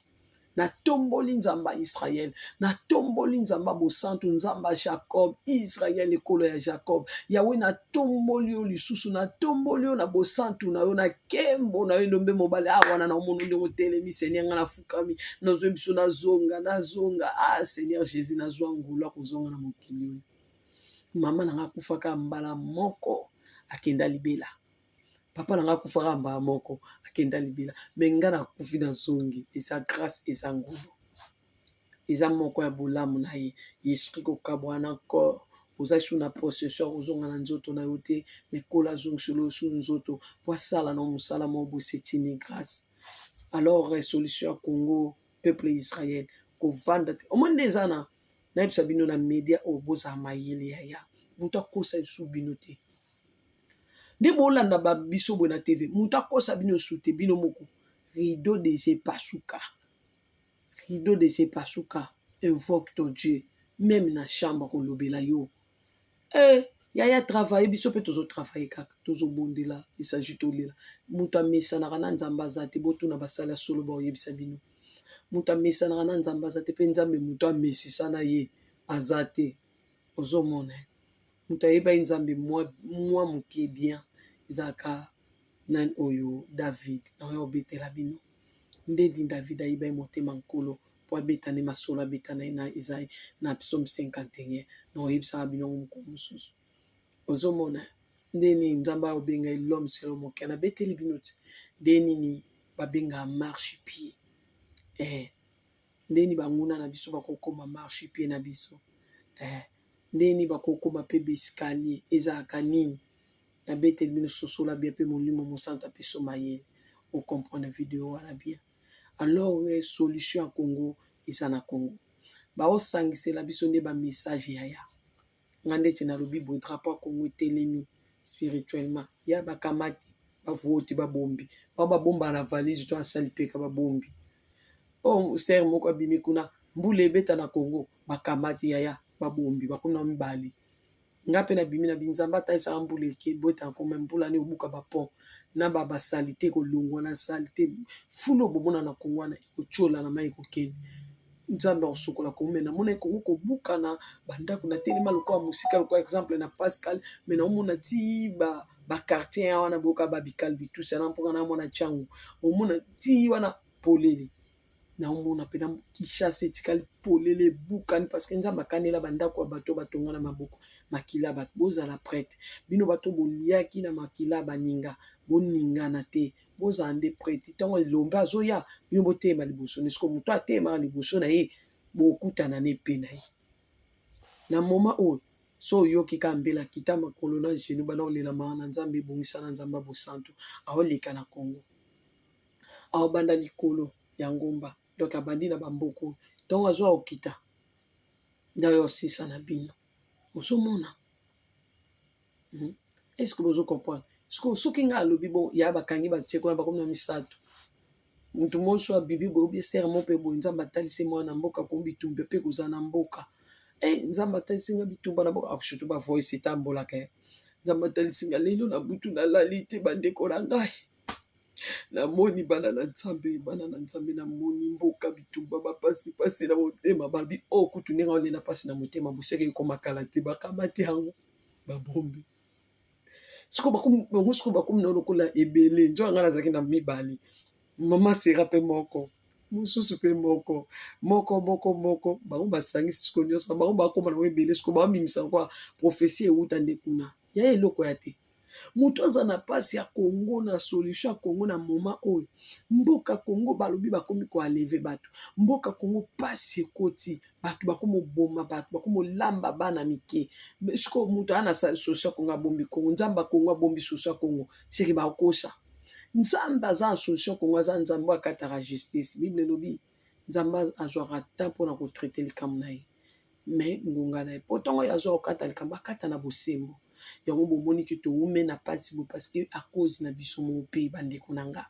natomboli nzambe ya israel natomboli nzambe ya bosantu nzambe ya jacob israel ekolo ya jacob yawe natomboli yo lisusu natomboli yo na bosantu na yo na kembo na yo elombe mobali awa na na omono ndenge otelemi senia ngai na nafukami nazwe biso nazonga nazonga ah seigneur jésus nazwa ngolu akozonga na mokili oyo mama nanga akufaka mbala moko akenda libela papa nanga akufaka mbala moko akenda libela me nga nakufi nazongi eza grâce eza ngolu eza moko ya bolamu na ye esprit kokabwana corps oza su na procession ya kozonga na nzoto na yo te mekola azongisolo su nzoto po asala na mosala moko bosetini grâce alors solution ya congo peuple ya israel kovanda te omoni nde eza na nayebisa bino na media oyo bozala mayele yaya moto akosa esu bino te nde bolanda biso boye na tv moto akosa bino esu te bino moko rideau de je pasuka rideau de je pasuka invoque ton dieu meme na chambre kolobela yo Eh, yaya travaille biso mpe tozo travaille kaka tozobondela esagi tolela moto amesanaka na nzambe aza te botuna basala solo baoyebisa bino moto amesanaka na nzambe aza te mpe nzambe moto amesisa na ye aza te ozomona moto ayebaki nzambe mwa moke bien ezalaka nani oyo david naoya obetela bino ndeni david ayebaki motema nkolo po abeta nde masolo abeta na ye na eza na psaume 51 na oyebisaka bino yango mokolo mosusu ozomona nde nini nzambe aobenga ye l'homme selo moke anabeteli bino ti nde nini babengaka marche pied eh, nde nini banguna na biso bakokoma marche pied na biso eh, nde nini bakokoma mpe baescalier ezalaka nini nabeteli bino sosola bien mpe molimo mosantu apeso mayele okomprendre video wana bien alors que solution ya Congo eza na Congo bao sangisela biso nde ba message yaya nga ndeti nalobi boye drapeau ya Congo etelemi spirituellement ya bakamati bavoti babombi bao babomba na valise to asali peka babombi oyo oh, ser moko abimi kuna mbula ebeta na Congo bakamati yaya babombi bakuna mibale nga pe na bimi na binzambe ata esaka mbula eke bweta nko me mbula ne obuka ba pont na ba ba salite ko longwa na salite fulu obomona na kongo wana eko tiola na mayi kokende nzambe akosokola kongo me namona ekongo kobukana bandako na telema lokola mosika lokola exemple na pascal me naomona ti ba bakartier ya wana boyoka babikalbi tusa na mpoka na mwana ntiango omona ti wana polele naomona mpena kishasa etikali polele ebukani parceke nzambe akanela bandako ya bato batonga na maboko makila bato bozala prete bino bato boliaki na makila baninga boningana te bozala nde prete ntango elombe azoya bino boteyema liboso na esiko moto ateyemaka liboso na ye bokutana na epe na ye na moma oyo so oyoki ka mbela kita makolo na genu bana olela maa na nzambe ebongisa na nzambe ya bosantu aoleka na kongo Aobanda likolo ya ngomba donc abandi na bamboka oyo ntongo azwa okita nde oyo osisa na bino ozomona hmm? est-ce que bozo comprendre sikoyo soki ngai alobi bo ya bakangi batie kuna bakomi na misato moto monso abibi boyebi esere mo mpe boye nzambe atalisi mwana mboka komi bitumbe mpe kozala na mboka e nzambe atalisi ngai bitumba na mboka akusutu bavoisi etambolaka nzambe atalisi ngai lelo na butu nalali te bandeko na ngai na moni bana na nzambe bana na nzambe na moni mboka bitumba ba pasi pasi na motema balobi oyo oh, kutu ndenge olela pasi na motema boseke ekoma kala te bakamati yango babombi siko bango siko bakomi na lokola ebele njo yanga nazalaki na mibale mama sera mpe moko mosusu mpe moko moko moko moko bango basangisi siko nyonso bango bakoma nango ebele siko bamimisa yango prophesie euta nde kuna ya eloko ya te moto aza na mpasi ya congo na solution ya congo na moma oyo mboka congo balobi bakomi koaleve bato mboka congo mpasi ekoti bato bakomoboma bato bakomolamba bana mike sikoyo moto aa na solution ya congo abombi congo nzambe ya congo abombi solution ya congo seke bakosa nzambe aza na solution congo aza nzambe akataka justice bible elobi nzambe azwaka temps mpona kotraite likambo na ye mais ngonga na ye po ntango ye azwa kokata likambo akata na bosembo yango bomoni ke toume na mpasi boye parce que a cause na biso moko mpe bandeko na nga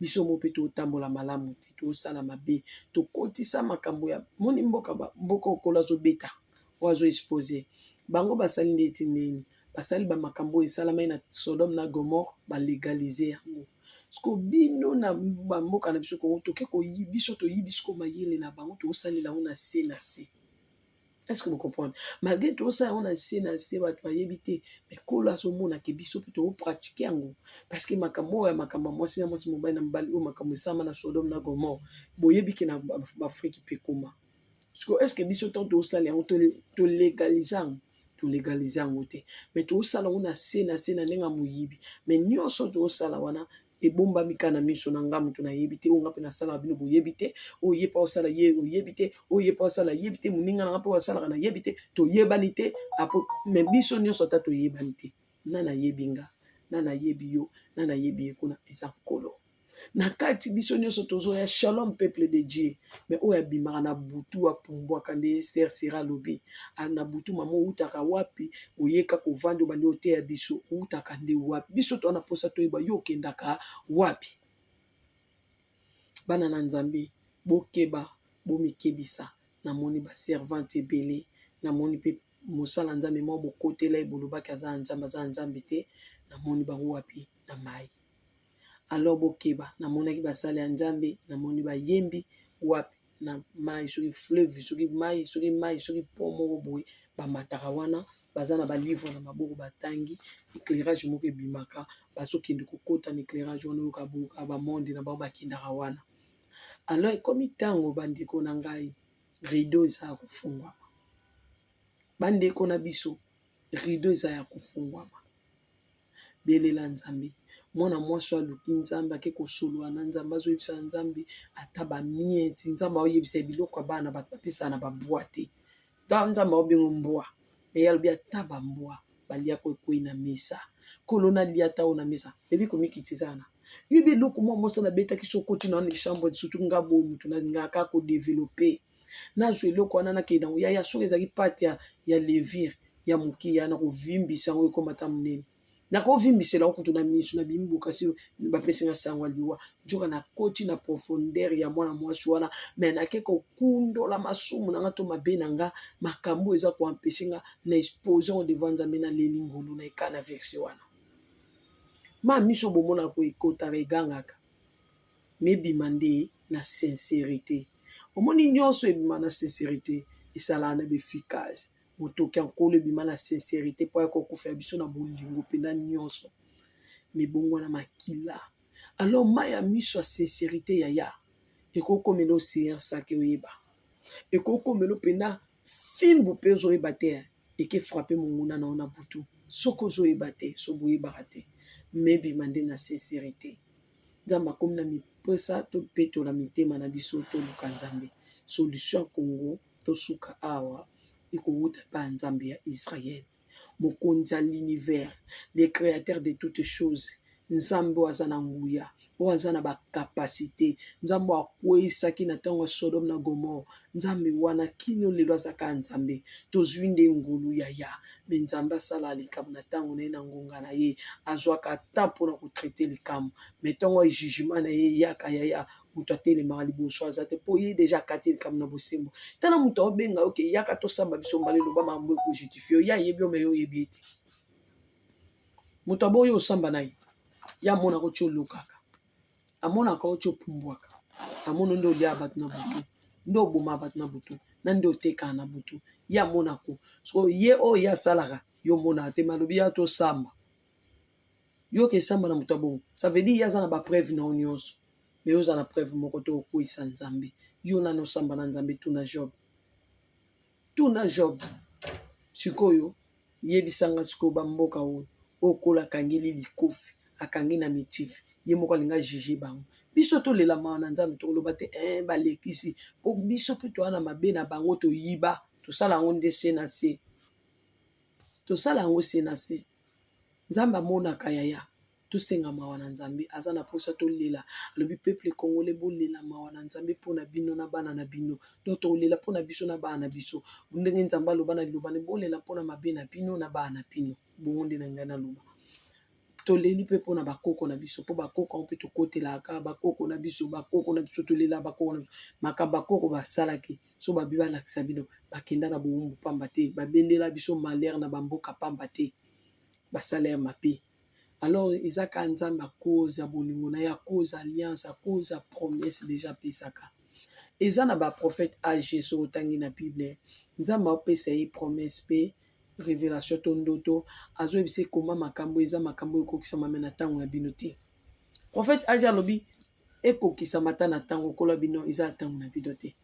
biso moko mpe totambola malamu te tosala mabe tokotisa makambo ya moni mboka mboka okolo azobeta oyo azo expose bango basali nde ete nini basali bamakambo oyo esalamai na sodome na gomore balegalize yango Siko bino na ba mboka na biso Congo toke koyi biso toyibi siko mayele na bango tokosalela yango na se na se est-ce que vous comprenez malgré tokosala yango na se na se bato bayebi te mais kolo azomona ke biso mpe tokopratike yango parce que makambo oyo ya makambo ya mwasi na mwasi mobali na mobali oyo makambo esalama na sodome na gomore boyebi ke na baafrike mpe ekoma siko eske biso ntango tosala yango tolegalize yango tolegalize yango te mai tosala yango na se na se na ndenge ya moyibi mai nyonso tosala wana ebombami ka na miso na nga moto nayebi te oyo nga mpe nasalaka bino boyebi te oyo ye mpe osala ye oyebi te oyo ye mpe osala yebi te moninga na nga mpe osalaka nayebi te toyebani te mai biso nyonso ata toyebani te na nayebi nga na nayebi yo na nayebi ye kuna eza nkolo na kati biso nyonso tozoya shalom peuple de dieu me oyo abimaka na butu apumbwaka nde ser sera alobi ah, na butu mama outaka wapi oyeka kovanda obandi oteya biso outaka nde wapi biso toa na mposa toyeba yo okendaka wapi bana na nzambe bokeba bomikebisa namoni baservante ebele namoni mpe mosala nzambe mwa mokotela ye bolobaki aza ya nzambe aza ya nzambe te namoni bango wapi na mai alors bokeba namonaki basali ya nzambe namoni bayembi wapi na mai soki fleuve soki mai soki mai soki po moko boye bamataka wana baza na balivre na maboko batangi eclairage moko ebimaka bazokende kokota na eclairage wana oyoka boyoka bamonde na bango bakendaka wana alors ekomi ntango bandeko na ngai rideau eza ya kofungwama bandeko na biso rideau eza ya kofungwama belela nzambe mwana mwasi oyo aluki nzambe ake kosolola na nzambe azoyebisa na nzambe ata bamieti nzambe aoyebisa ye biloko ya bana bato bapesa na babwa te ta nzambe aobengo mbwa eye alobi ata bambwa balia koekwei na mesa kolona lia ata oyo na mesa ebi komikitiza wana yebi eloko mwa mwasi na betaki sokoti na wana echambre sutu nga boye motu na lingaka kodevelope nazwa eloko wana nakende yango yaya soki ezalaki pate ya, ya levire ya moke ya nakovimbisa yango ekomata monene nakovimbisela yango kutu na miso na bimi bokasi bapesi nga sango ya liwa njoka nakoti na profondeur ya mwana mwasi wana me nake kokundola masumu na nga to mabe na nga makambo oyo eza koampeshe nga na expose yango devant nzambe na leli ngulu na ekana verse wana ma miso bomonaka koekotaka egangaka mais ebima nde na sincerite omoni nionso ebima na sincerite esalaka na b'efficace motoki ya nkolo ebima na sincerite mpo aya kokufela biso na bolingo mpena nionso mibongwana makila alors mai ya miso ya sincerite yaya ekokomela ocean sake oyeba ekokomela mpena fimbu mpe ozoyeba te eke frappe monguna na yo na butu soki ozoyeba te soki boyebaka te mebima nde na sincerite nzambe akomi na mipesa topetola mitema na biso toluka nzambe solution ya congo tosuka awa ekowuta epai ya nzambe ya israel mokonzi ya l'univers le créateur de toutes choses nzambe oyo aza na nguya oyo aza na bacapacité nzambe oyo akweisaki na ntango ya sodome na gomore Nzambe wana kino lelo aza kaka Nzambe. Tozui nde ngolu yaya mais Nzambe asalaka likambo na tango na ye na ngonga na ye. Azuaka temps pona ko traiter likambo mais tongo oyo jugement na ye eyaka yaya mutu atelemaka liboso aza te po ye dejà akati likambo na bosembo. Tala mutu aobenga yo ke yaka tosamba biso mibale loba makambo oyo eko justifier yo. Ye ayebi yo mais yo oyebi ye te. Mutu aboyi yo osamba na ye? Ye amonaka otie olokaka. amonaka yo ti opumbwaka amono nde olia bato na butu nde oboma bato na butu na nde otekaka na butu ye amonako so ye oyo ye asalaka yo omonaka te malobi ya tosamba yoka esamba na moto ya bongo sa veut dire ye aza na bapreuve na yo nyonso me oza na preuve moko te okweyisa nzambe yo nani osamba na nzambe tuna job tuna job sikoyo yebisanga sikoyo bamboka oyo okola akangeli likofi akangi na mitif ye moko alinga juge bango biso tolela mawa na nzambe tokoloba te e balekisi mpo biso mpe toa na mabe na bango toyiba tosala yango nde se na se tosala yango se na se Nzambe amonaka yaya tosenga mawa na nzambe aza na posa tolela alobi peuple congolais bolela mawa na nzambe mpo na bino na bana na bino donc tokolela mpo na biso na bana na biso ndenge nzambe aloba na liloba ne bolela mpo na mabe na bino na bana na bino bongo nde na ngai naloba toleli mpe mpo na bakoko na biso mpo bakoko yango mpe tokotelaka bakoko na biso bakoko na biso tolela bakoko na biso makambo bakoko basalaki so babi balakisa bino bakenda na bowumbu pamba te babendela biso malheur na bamboka pamba te basalaire mabe alors eza ka nzambe akoze ya bolingo na ye akoze alliance akoze ya promesse deja apesaka eza na baprofete age soki otangi na bible nzambe aopesa ye promesse mpe révélation to ndoto azoyebisa ekoma makambo eza makambo ekokisama me na ntango na bino te profete age alobi ekokisamata na ntango kolo ya bino eza na ntango na bino te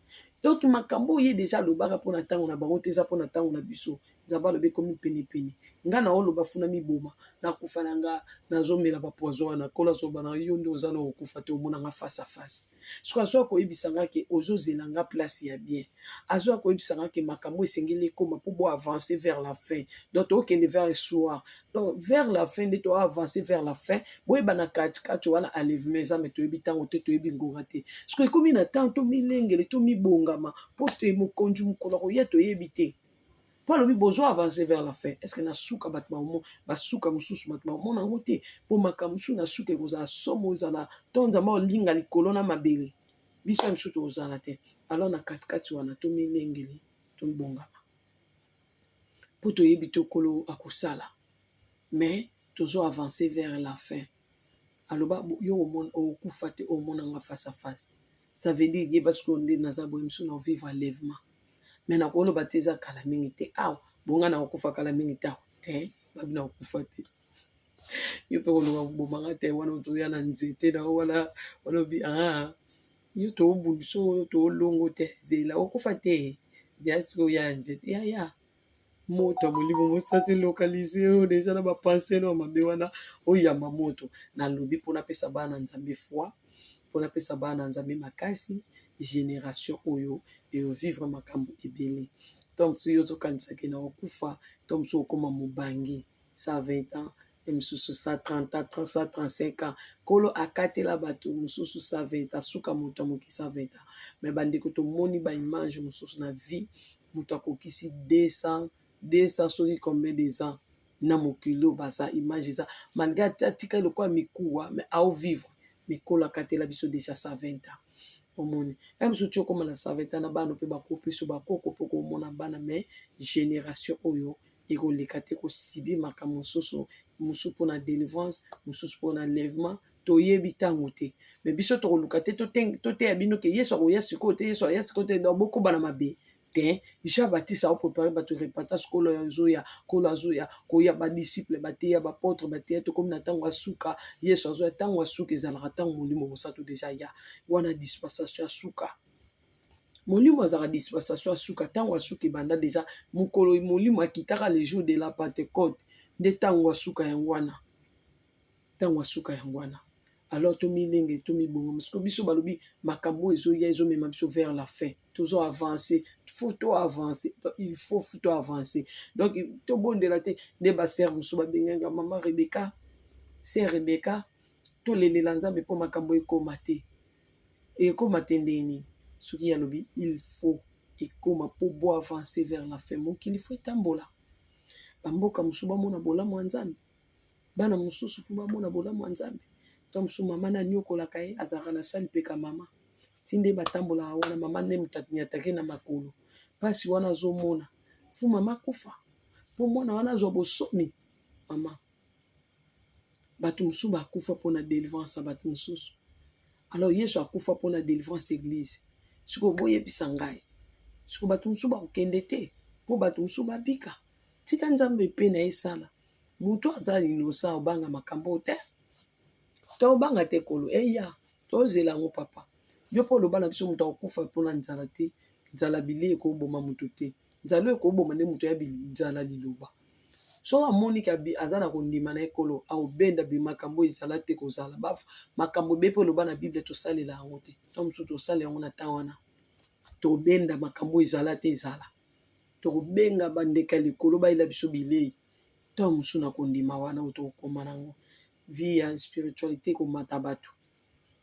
donc makambo oyo ye deja alobaka mpo na ntango na bango te eza mpo na ntango na biso nzambe alobi ekomi penepene nga na oloba funa miboma nakufa na nga nazomela bapoison wana kolo azoloba na yo nde oza na okokufa te omonanga face a face soki azoya koyebisa nga ke ozozela nga place ya bien azoya koyebisa nga ke makambo esengeli ekoma mpo bo avance vers la fin donc tookende vers soir donc vers la fin nde toa avance vers la fin boyeba na kati kati wana alevema eza me toyebi ntango te toyebi ngonga te soki ekomi na ntango tomilengele tomibongama mpo te mokonzi mokolo akoya toyebi te mpo alobi bozo avance vers la fin estce na suka bato baomo basuka mosusu bato baomona yango te mpo makambo mosusu na suka ekozala somo ezala to nzambe olinga likolo na mabele biso ya mosusu tokozala te alors na katikati wana tomilengele tobongama po toyebi te kolo akosala mais tozo avance vers la fin aloba yo okokufa te omona nga face à face ça veut dire yeba sikoyo nde naza boye mosusu na vivre enlèvement mais nakoloba te eza kala mingi te awa bonga nakokufa kala mingi te awa te babina kokufa te yo mpe koluka koboma nga te wana ozoya na nzete na yo wana olobi aa yo toobundu so toolongo te zela okufa te ya sikoyo ya nzete ya ya moto ya molimo mosantu elokalize oyo deja na bapanseno ya mabe wana oyamba moto nalobi mpo napesa bana nzambe foi mpo napesa bana nzambe makasi generation oyo eovivre makambo ebele to mosusu yo ozokanisaki na okufa to mosusu okoma mobange 120 ans e mosusu 130 ans 135 ans nkolo akatela bato mosusu 120 ans suka moto ya moke 120 ans me bandeko tomoni baimage mosusu na vie moto akokisi 200 200 soki combien des ans na mokili oyo baza image eza malgre atika lokola mikuwa me ao vivre mikolo akatela biso deja 120 ans omoni ya mosusu ti okóma na 120 ans na bana mpe bakopesa bakoko mpo komona bana me génération oyo ekoleka te ko subir makambo mosusu, mosusu pona delivrance, mosusu pona enlèvement, toyebi tango te, mais biso tokoluka te toteya bino ke yesu akoya sikoyo te, yesu aya sikoyo te, donc bokoba na mabe te, jean baptiste ao prepare batu repentance, kolo azoya, kolo azoya, koya, ba disciple bateya, ba apotre bateya, tokomi na tango ya suka, yesu azoya, tango ya suka ezalaka tango molimo mosantu dejà aya, wana dispensation ya suka. molimo azalaka dispensation ya suka ntango ya suka ebanda deja mokolo molimo akitaka le jour de la pentecote nde ntango ya suka yango wana ntango ya suka yango wana alors tomilenge tomibonga mosiko biso balobi makambo oyo ezoya ezomema biso vers la fin tozo avance faut to avance il faut faut to avance donc tobondela te nde basere mosusu babengaka mama rebeka se rebeka tolelela nzambe mpo makambo ekoma te Ekoma te ndenge nini soki ye alobi il faut ekoma mpo bo avancer vers la fin. Mokili il faut etambola, ba mboka mosusu bamona bolamu ya Nzambe, bana mosusu il faut bamona bolamu ya Nzambe, tango mosusu mama nde aniokolaka ye azalaka na salle mpe ka mama ti nde batambolaka wana mama nde moto aniataka ye na makolo mpasi wana azomona il faut mama akufa mpo mwana wana azwa bosomi mama. batu mususu ba kufa pona delivrance ya batu mususu alors yesu akufa pona delivrance ya eglise sikoyo boyebisa ngai sikoyo batu mususu bakokende te po batu mususu babika tika nzambe pe na ye esala mutu aza inosa obanga makambo oyo te tobanga te kolo eya tozela yango papa yo pe oloba na biso mutu akokufa pona nzala te nzala bileyi ekoboma mutu te nzala oyo ekoboma nde moto ya nzala liloba soki amoni ke aza na kondima na ekolo akobenda bimakambo oyo ezala te kozala ba makambo ebe mpe oloba na bible tosalela yango te to mosusu tosala yango na ntan wana tobenda makambo oyo ezala te ezala tokobenga bandeke ya likolo bayela biso bilei ntango mosusu na kondima wana oyo tokokoma na yango vie ya spiritualité komata bato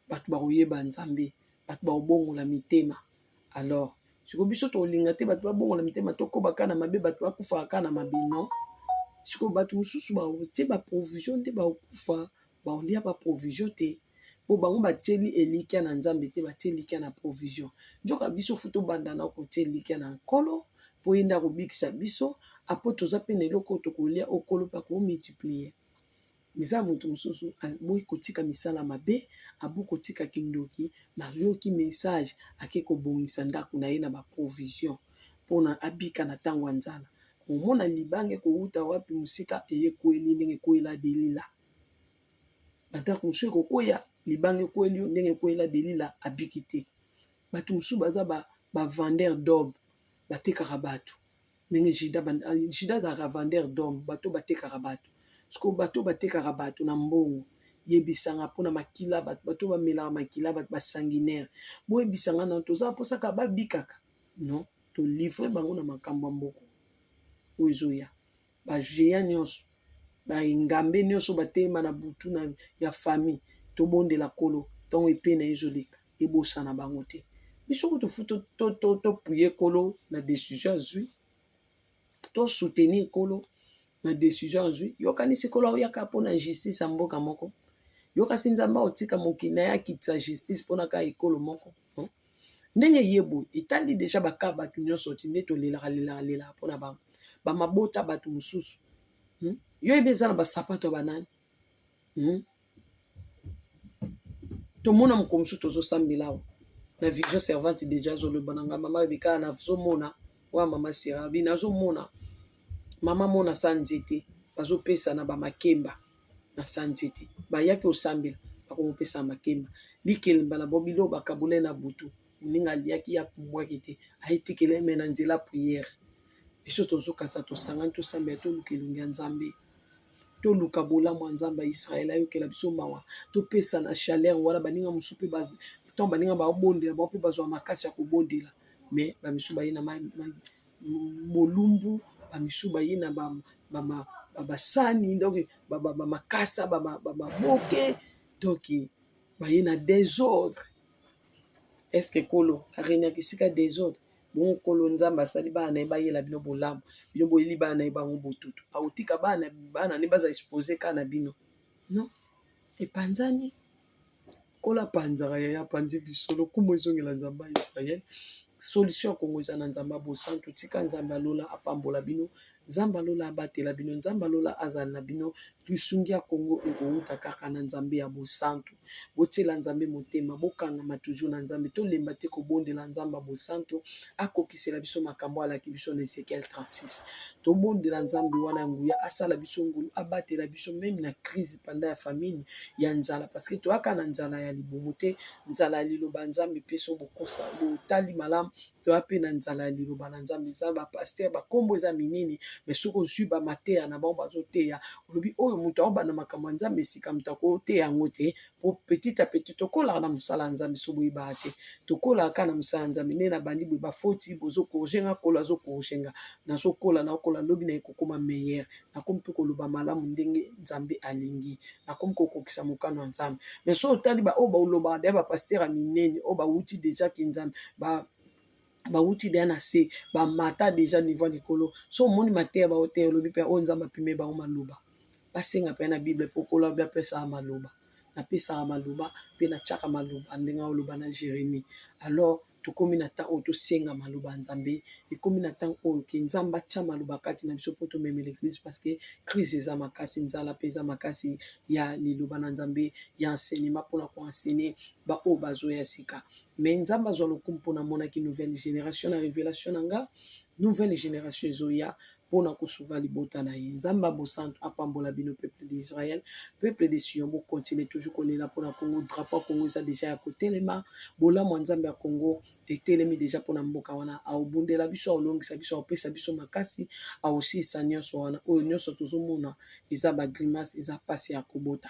bato bakoyeba Nzambe, bato bakobongola mitema. Alors sikoyo biso tokolinga te bato babongola mitema, tokoba kaka na mabe, bato bakufaka kaka na mabe? Non, sikoyo bato mosusu bakotie ba provision nde bakokufa, bakolia ba provision te po bango batieli elikya na Nzambe te, batie elikya na provision. Nzoka biso fu tobanda na kotie elikya na Nkolo po ye nde akobikisa biso, apo toza mpe na eloko oyo tokolia, oyo Nkolo mpe akomultiplier. Mais eza mutu mususu aboyi kotika misala mabe, aboyi kotika kindoki, mais ayoki message ake kobongisa ndaku na ye na ba provision pona abika na tango ya nzala. Omona libanga ekowuta wapi musika eye ekweli ye ndenge ekweyela Delila. Ba ndaku mususu ekokweya libanga ekweyeli yo ndenge ekweyela Delila abiki te. Batu mususu baza ba vendeur d'aube batekaka batu. ndenge juda banda juda azalaka vendeur d'homme bato oyo batekaka bato sikoyo bato oyo batekaka bato na mbongo yebisanga mpo na makila bato bato oyo bamelaka makila bato basanguinaire boyebisanga na tozala mposaka babikaka non tolivre bango na makambo ya mboko oyo ezoya bageant nyonso baengambe nyonso batelema na butu na ya famille tobondela kolo ntango epe na ezoleka ebosana bango te biso kutu fu topuye kolo na decision azwi to soutenir kolo na decision azwi yokanisi kolo aoyaka mpo na justice ya mboka moko yokasi nzambe aotika mokili na ye akitisa justice mpo na kaka ekolo moko ndenge ye boye etali deja baka bato nyonso ti nde tolelaka lelaka lelaka mpo na bango bamabota bato mosusu hmm? yo ebe eza na basapato ya banani hmm? tomona mokolo mosusu tozosambela awa na vision servante deja azoloba na ngai mama rebeka nazomona oya mama serabi nazomona mama mona sa nzete bazopesa na bamakemba na sa nzete bayaki osambela bakokopesa makemba likelemba na bobilo bakabula na butu moninga aliaki ya pumbwaki te ayetikela eme na nzela priere biso tozokasa tosangani tosambela toluka elongi ya nzambe toluka bolamu ya Nzambe ya Israël ayokela biso mawa topesa na chaleur wana baninga mosusu mpe ba ntango baninga babondela bango mpe bazwa makasi ya kobondela mais bamisusu baye na bolumbu bamisusu baye na basani donc bamakasa bamaboke donc baye na desordre est ce que kolo arenaki esika desordre Bongo Nkolo Nzambe asali bana na ye bayela bino bolamu, bino boyeli bana na ye bango botutu. Akotika bana bana ne baza expose kaka na bino? Non, epanzani. Nkolo apanzaka yaya apanzi biso, lokumu ezongela Nzambe ya Israele. Solution ya Kongo eza na Nzambe ya bosantu. Tika Nzambe ya lola apambola bino Nzambe ya lola abatela bino. Nzambe ya lola azala na bino. Lisungi ya Congo ekowuta kaka na Nzambe ya bosantu. Botiela Nzambe motema, bokangama toujours na Nzambe. Tolemba te kobondela Nzambe ya bosantu akokisela biso makambo alaki biso na Ezekiel 36. Tobondela Nzambe wana ya nguya asala biso ngolu, abatela biso meme na crise panda ya famine, ya nzala parce que toyaka na nzala ya libumu te, nzala ya liloba ya Nzambe epeso bokosa botali malamu toya mpe na nzala ya liloba na Nzambe. Eza ba pasteur ba kombo eza minene mais soki ozui ba mateya na bango bazoteya olobi oyo moto aobanda makambo ya Nzambe sika moto akoteya yango te po petit a petit tokolaka na mosala ya Nzambe soki boyebaka te tokolaka kaka na mosala ya Nzambe nde nabandi boye bafoti bozo corrige nga kolo azo corrige nga nazokola nakola lobi na ye kokoma meilleur nakomi mpe koloba malamu ndenge nzambe alingi nakomi kokokisa mokano ya nzambe mais so otali baoyo baolobaka deya bapastere ya minene oyo bawuti deja kinzambe ba bawuti deya na se bamata deja niveau ya likolo so omoni mateya baoteya olobi mpe oyo nzambe apime bango maloba basenga mpe na bible mpo kolo abi apesaka maloba napesaka maloba mpe natyaka maloba ndenge aoloba na jeremie alors Tokomi na temps oyo tosenga maloba ya nzambe ekomi na temps oyo ke nzambe atia maloba kati na biso mpo tomemela eglise parce que crise eza makasi nzala mpe eza makasi ya liloba na nzambe ya enseignement mpona koenseigne baoyo bazoya sika mais nzambe azwa lokumu mpona amonaki nouvelle génération na révélation na nga nouvelle génération ezoya mpo na kosunga libota na ye. Nzambe ya bosantu apambola bino peuple d'Israël, peuple de Sion bo continuer toujours kolela mpo na Congo, drapeau ya Congo eza dejà ya kotelema, bolamu ya Nzambe ya Congo etelemi dejà mpo na mboka wana, akobundela biso, akolongisa biso, akopesa biso makasi, akosilisa nyonso wana, oyo nyonso tozomona eza ba grimace, eza pasi ya kobota.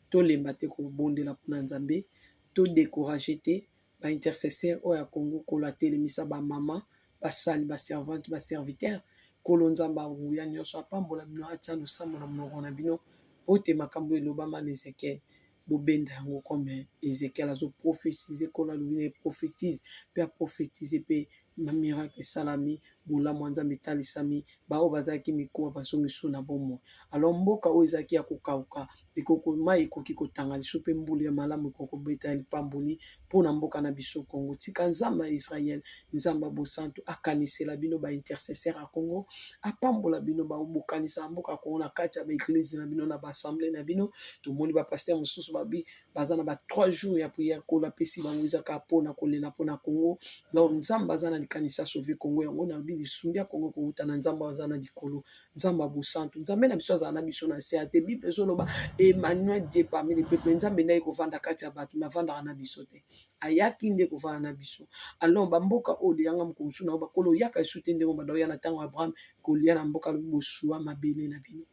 Tolemba te kobondela mpo na Nzambe, to decourager te, ba intercesseur oyo ya Congo kolo atelemisa ba mama ba sali ba servante ba serviteur kolo nzambe ya nguya nionso apambola bino atia losambo na monoko na bino pote makambo elobama na ezekiel bobenda yango comme ezekiel azo prophetise kolo alobi na ye prophetise pe aprofetise pe na miracle esalami bolamu ya nzambe etalisami baoyo bazalaki mikuwa bazongi lisusu na bomoi alors mboka oyo ezalaki ya kokauka ekoko mai ekoki kotanga lisusu mpe mbuli ya malamu ekoki kobeta ya lipamboli mpo na mboka na biso congo tika nzambe ya israel nzambe ya bosantu akanisela bino baintercesseur ya congo apambola bino baobokanisa mboka congo na kati ya baeglise na bino na baassemble na bino tomoni bapaster mosusu babi baza na ba trois jours ya prière nkolo apesi bango ezaka mpo na kolela mpo na congo donc nzambe aza na likanisi asauve congo yango nalobi lisungi ya congo ekouta na nzambe aza na likolo nzambe ya bosantu nzambe na biso azala na biso na nse ya te bible ezoloba emmanuel die parmi le peuple nzambe ndaki kovanda kati ya bato me avandaka na biso te ayaki nde kovanda na biso alors bamboka oyo leyanga mokolo mosusu na yo bakolo oyaka esu te ndenge obanda oya na ntango ya abraham kolia na mboka lobi bosua mabele na bino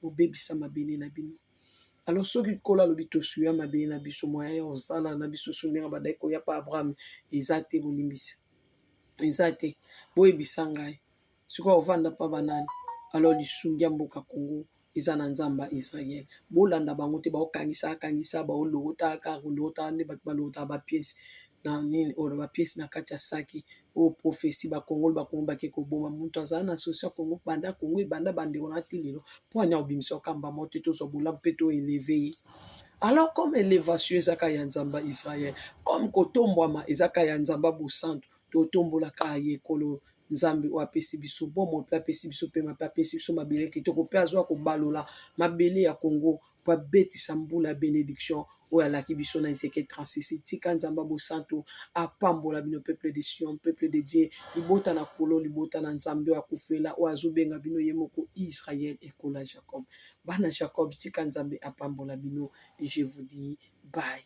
bobebisa mabele na bino Alors soki nkolo alobi tosuya mabe na biso moya ya kosala na biso so ndenge abandaki koya pa abraham eza te bolimbisi eza te boyebisa ngai sikoyo ovanda pa banani alors lisungi ya mboka congo eza na nzambe ya israele bolanda bango te baokangisa akangisa baolokotaka kolokotaka nde bato balokotaka bapiese na nini oyo bapiese na kati ya saki oyo prophetie ba kongolo ba kongo bake koboma mutu azala na solution ya kongo banda kongo ebanda bandeko na ti lelo mpo ani akobimisa okamba moko te tozwa bolamu mpe to eleve ye alors comme elevation ezaka ya nzamba israel comme kotombwama ezaka ya nzamba bosantu totombolaka ye ekolo nzambe oyo apesi biso bomoi mpe apesi biso mpema mpe apesi biso mabele kitoko mpe azwa kobalola mabele ya kongo po abetisa mbula ya benediction oyo alaki biso na Ezekiel 36. Tika Nzambe ya bosantu apambola bino peuple de Sion, peuple de Dieu, libota na Nkolo, libota na Nzambe oyo akufela, oyo azobenga bino ye moko Israël, ekolo ya Jacob. Bana Jacob, tika Nzambe apambola bino. Je vous dis bye.